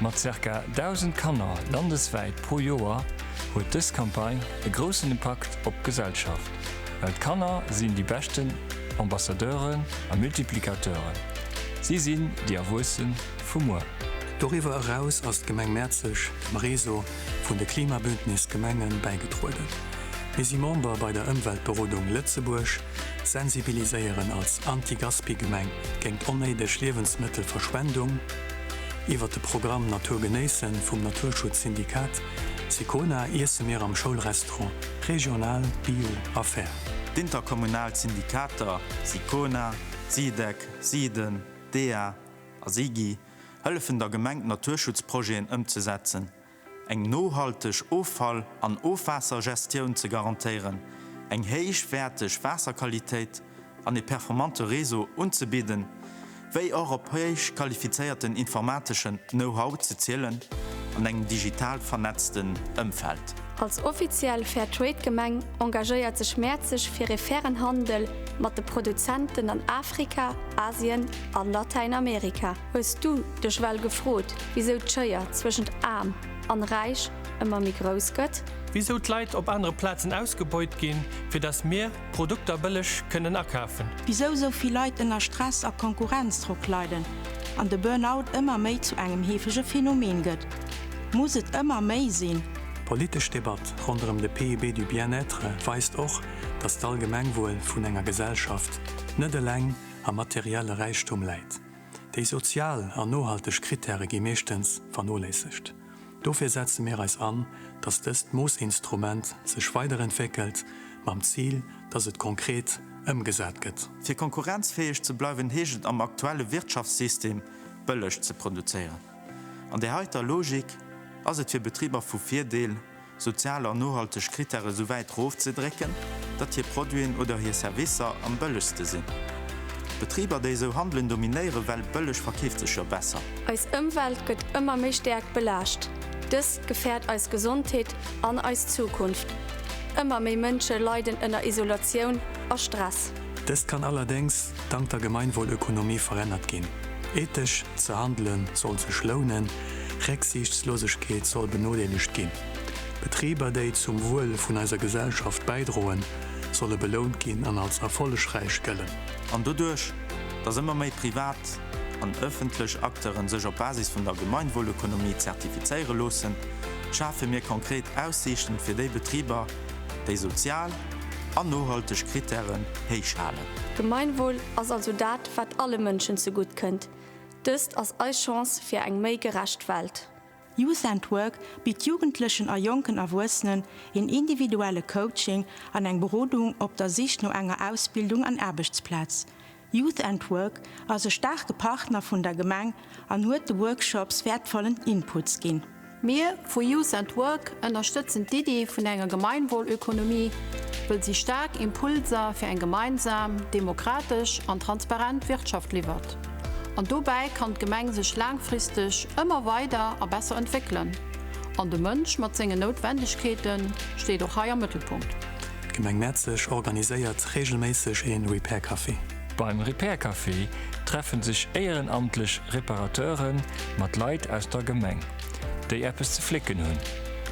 Speaker 1: Mat zirka 1.000 Kanner landeswäit pro Joer huet dës Campagne e groussen Impakt op d'Gesellschaft, well d'Kanner sinn déi beschten Ambassadeuren a Multiplicateuren, si sinn déi Erwuesse vu muer. Doriwwer eraus ass d'Gemeng Mäerzeg am Réseau vun de Klimabündnis Gemengen bäigedrueden. Mir si Member bei der Ëmweltberodung Lëtzebuerg, sensibiliséieren als Anti-Gaspi-Gemeng géint onnéideg Liewensmëttelverschwendung. Iwwert de Programm Natur genéissen vum Naturschutzsyndikat Sicona iesse mir am Schoulrestaurant regional, bio a fair. D'Interkommunal Syndikater Sicona, Sidec, Siden, dea a Sigi hëllefen der Gemeng Naturschutzprojeten ëmzesetzen, eng nohalteg Offall an Ofwaassergestioun ze garantéieren, eng héichwäerteg Waasserqualitéit an e performante Réseau unzebidden, wéi och op héich qualifizéierten informateschen Know-how ze zielen an engem digital vernetzten Ëmfeld. Als offiziell Fairtrade-Gemeng engagéiert sech Mäerzeg fir e fairen Handel mat de Produzenten an Afrika, Asien, A Latäinamerika hues du dech well gefrot, wisou d'Schéier zwëschent Aarm an Räich ëmmer méi grouss gëtt? Wisou d'Leit op anere Plazen ausgebeut ginn, fir dass mir d'Produkter bëlleg kënnen akafen? Wisou sou vill Leit ënner Stress a Konkurrenzdrock leiden an de Burnout ëmmer méi zu engem heefege Phänomen gëtt? Muss et ëmmer méi sinn? D'politesch Debatt ronderëm de PIB du Bien-être weist och, dass d'Allgemengwuel vun enger Gesellschaft net eleng a materielle Räichtum läit. Déi sozial an nohalteg Krittäre gi meeschtens vernoléissegt. Dofir setze mir eis an, dass dëst Moossinstrument sech weiderentwéckelt, mam Zil, dass et konkret ëmgesat gëtt. Fir konkurrenzfäeg ze bleiwen, heescht et am aktuelle Wirtschaftssystem, bëlleg ze produzéieren. An där heiter Logik ass et fir Betriber vu Virdeel, sozial an nohalteg Krittäre sou wäit rofzedrécken, datt hir Produiten oder hir Servicer am bëllegste sinn. D'Betriber, déi esou handelen, dominéieren, well bëlleg verkeeft sech jo besser. Eis Ëmwelt gëtt ëmmer méi stäerk belaascht. Dëst gefäert eis Gesondheet an eis Zukunft. Ëmmer méi Mënsche leiden ënner Isolatioun a Stress. Dëst kann allerdéngs dank der Gemeinwohlökonomie verännert ginn. Ethesch ze handelen sollt sech lounen. Récksiichtslosegkeet soll benodeelegt ginn. Betriber, déi zum Wuel vun eiser Gesellschaft bäidroen, solle belount ginn an als erfollegräich gëllen. An doduerch, dass ëmmer méi privat an ëffentlech Acteure sech op Basis vun der Gemeinwohlökonomie zertifizéiere loossen, schafe mir konkret Aussiichten fir déi Betriber, déi sozial an nohalteg Krittären héich halen. Gemeinwohl ass also dat, wat alle Mënschen zegutt kënnt. Dëst ass eis Chance fir eng méi gerecht Welt. Youth and Work bitt Jugendlechen a jonken Erwuessenen een individuelle Coaching an eng Berodung op der Sich no enger Ausbildung an Aarbechtsplaz. Youth and Work ass e staarke Partner vun der Gemeng an huet de Workshops wäertvollen Inputs ginn. Mir vu Youth at Work ënnerstëtzen d'Iddi vun enger Gemeinwohlökonomie, wëll si staark Impulser fir eng gemeinsam, demokratesch an transparent Wirtschaft liwwert. An dobäi kann d'Gemeng sech laangfristeg ëmmer weider a besser entwéckelen. An de Mënsch mat sengen Noutwendegkeete steet och hei am Mëttelpunkt. D'Gemeng Mäerzeg organiséiert reegelméisseg ee Repair Café. Beim Repair Café treffen sech éierenamtlech Reparateuren mat Leit aus der Gemeng, déi eppes ze flécken hunn,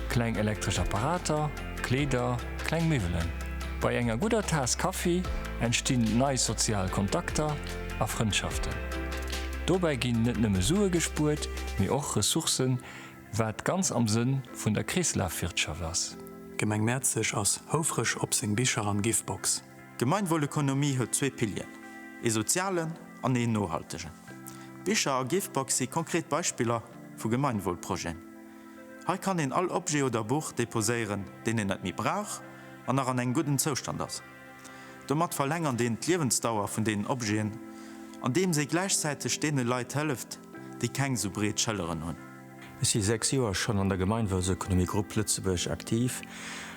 Speaker 1: kleng elektresch Apparater, Kleeder, kleng Miwwelen. Bei enger gudder Taass Kaffi entstinn nei sozial Kontakter a Frëndschaften. Dobäi ginn net nëmme Sue gespuert, mee och Ressourcen, wat ganz am Sënn vun der Kreeslafwirtschaft ass. D'Gemeng Mäerzeg ass houfreg op seng Bicher an Giftbox. D'Gemeinwohlökonomie huet zwee Pilieren, ee sozialen an een nohaltegen. D'Bicher a Givebox si konkret Beispiller vu Gemeinwohlprojeten. Hei kann een all Objet oder Buch deposéieren, deen een net méi brauch an nach an engem gudden Zoustand ass. Domat verlängert een d'Liewensdauer vun deenen Objeten, andeems ee gläichzäiteg deene Leit hëlleft, déi keng sou breet Schëlleren hunn. Ech si sechs Joer schonn an der Gemeinwohlsökonomie Grupp Lëtzebuerg aktiv,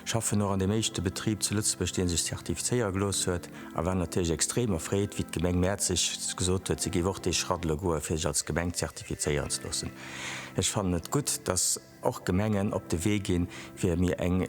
Speaker 1: schaffen och an deem éischte Betrib zu Lëtzebuerg, dee sech zertifizéiere gelooss huet, a war natierlech extrem erfreet, wéi d'Gemeng Mäerzeg gesot huet, si géif och dee Schratt elo goen, fir sech als Gemeng zertifizéieren ze loossen. Ech fannen et gutt, dass och Gemengen op de Wee ginn, fir mir eng.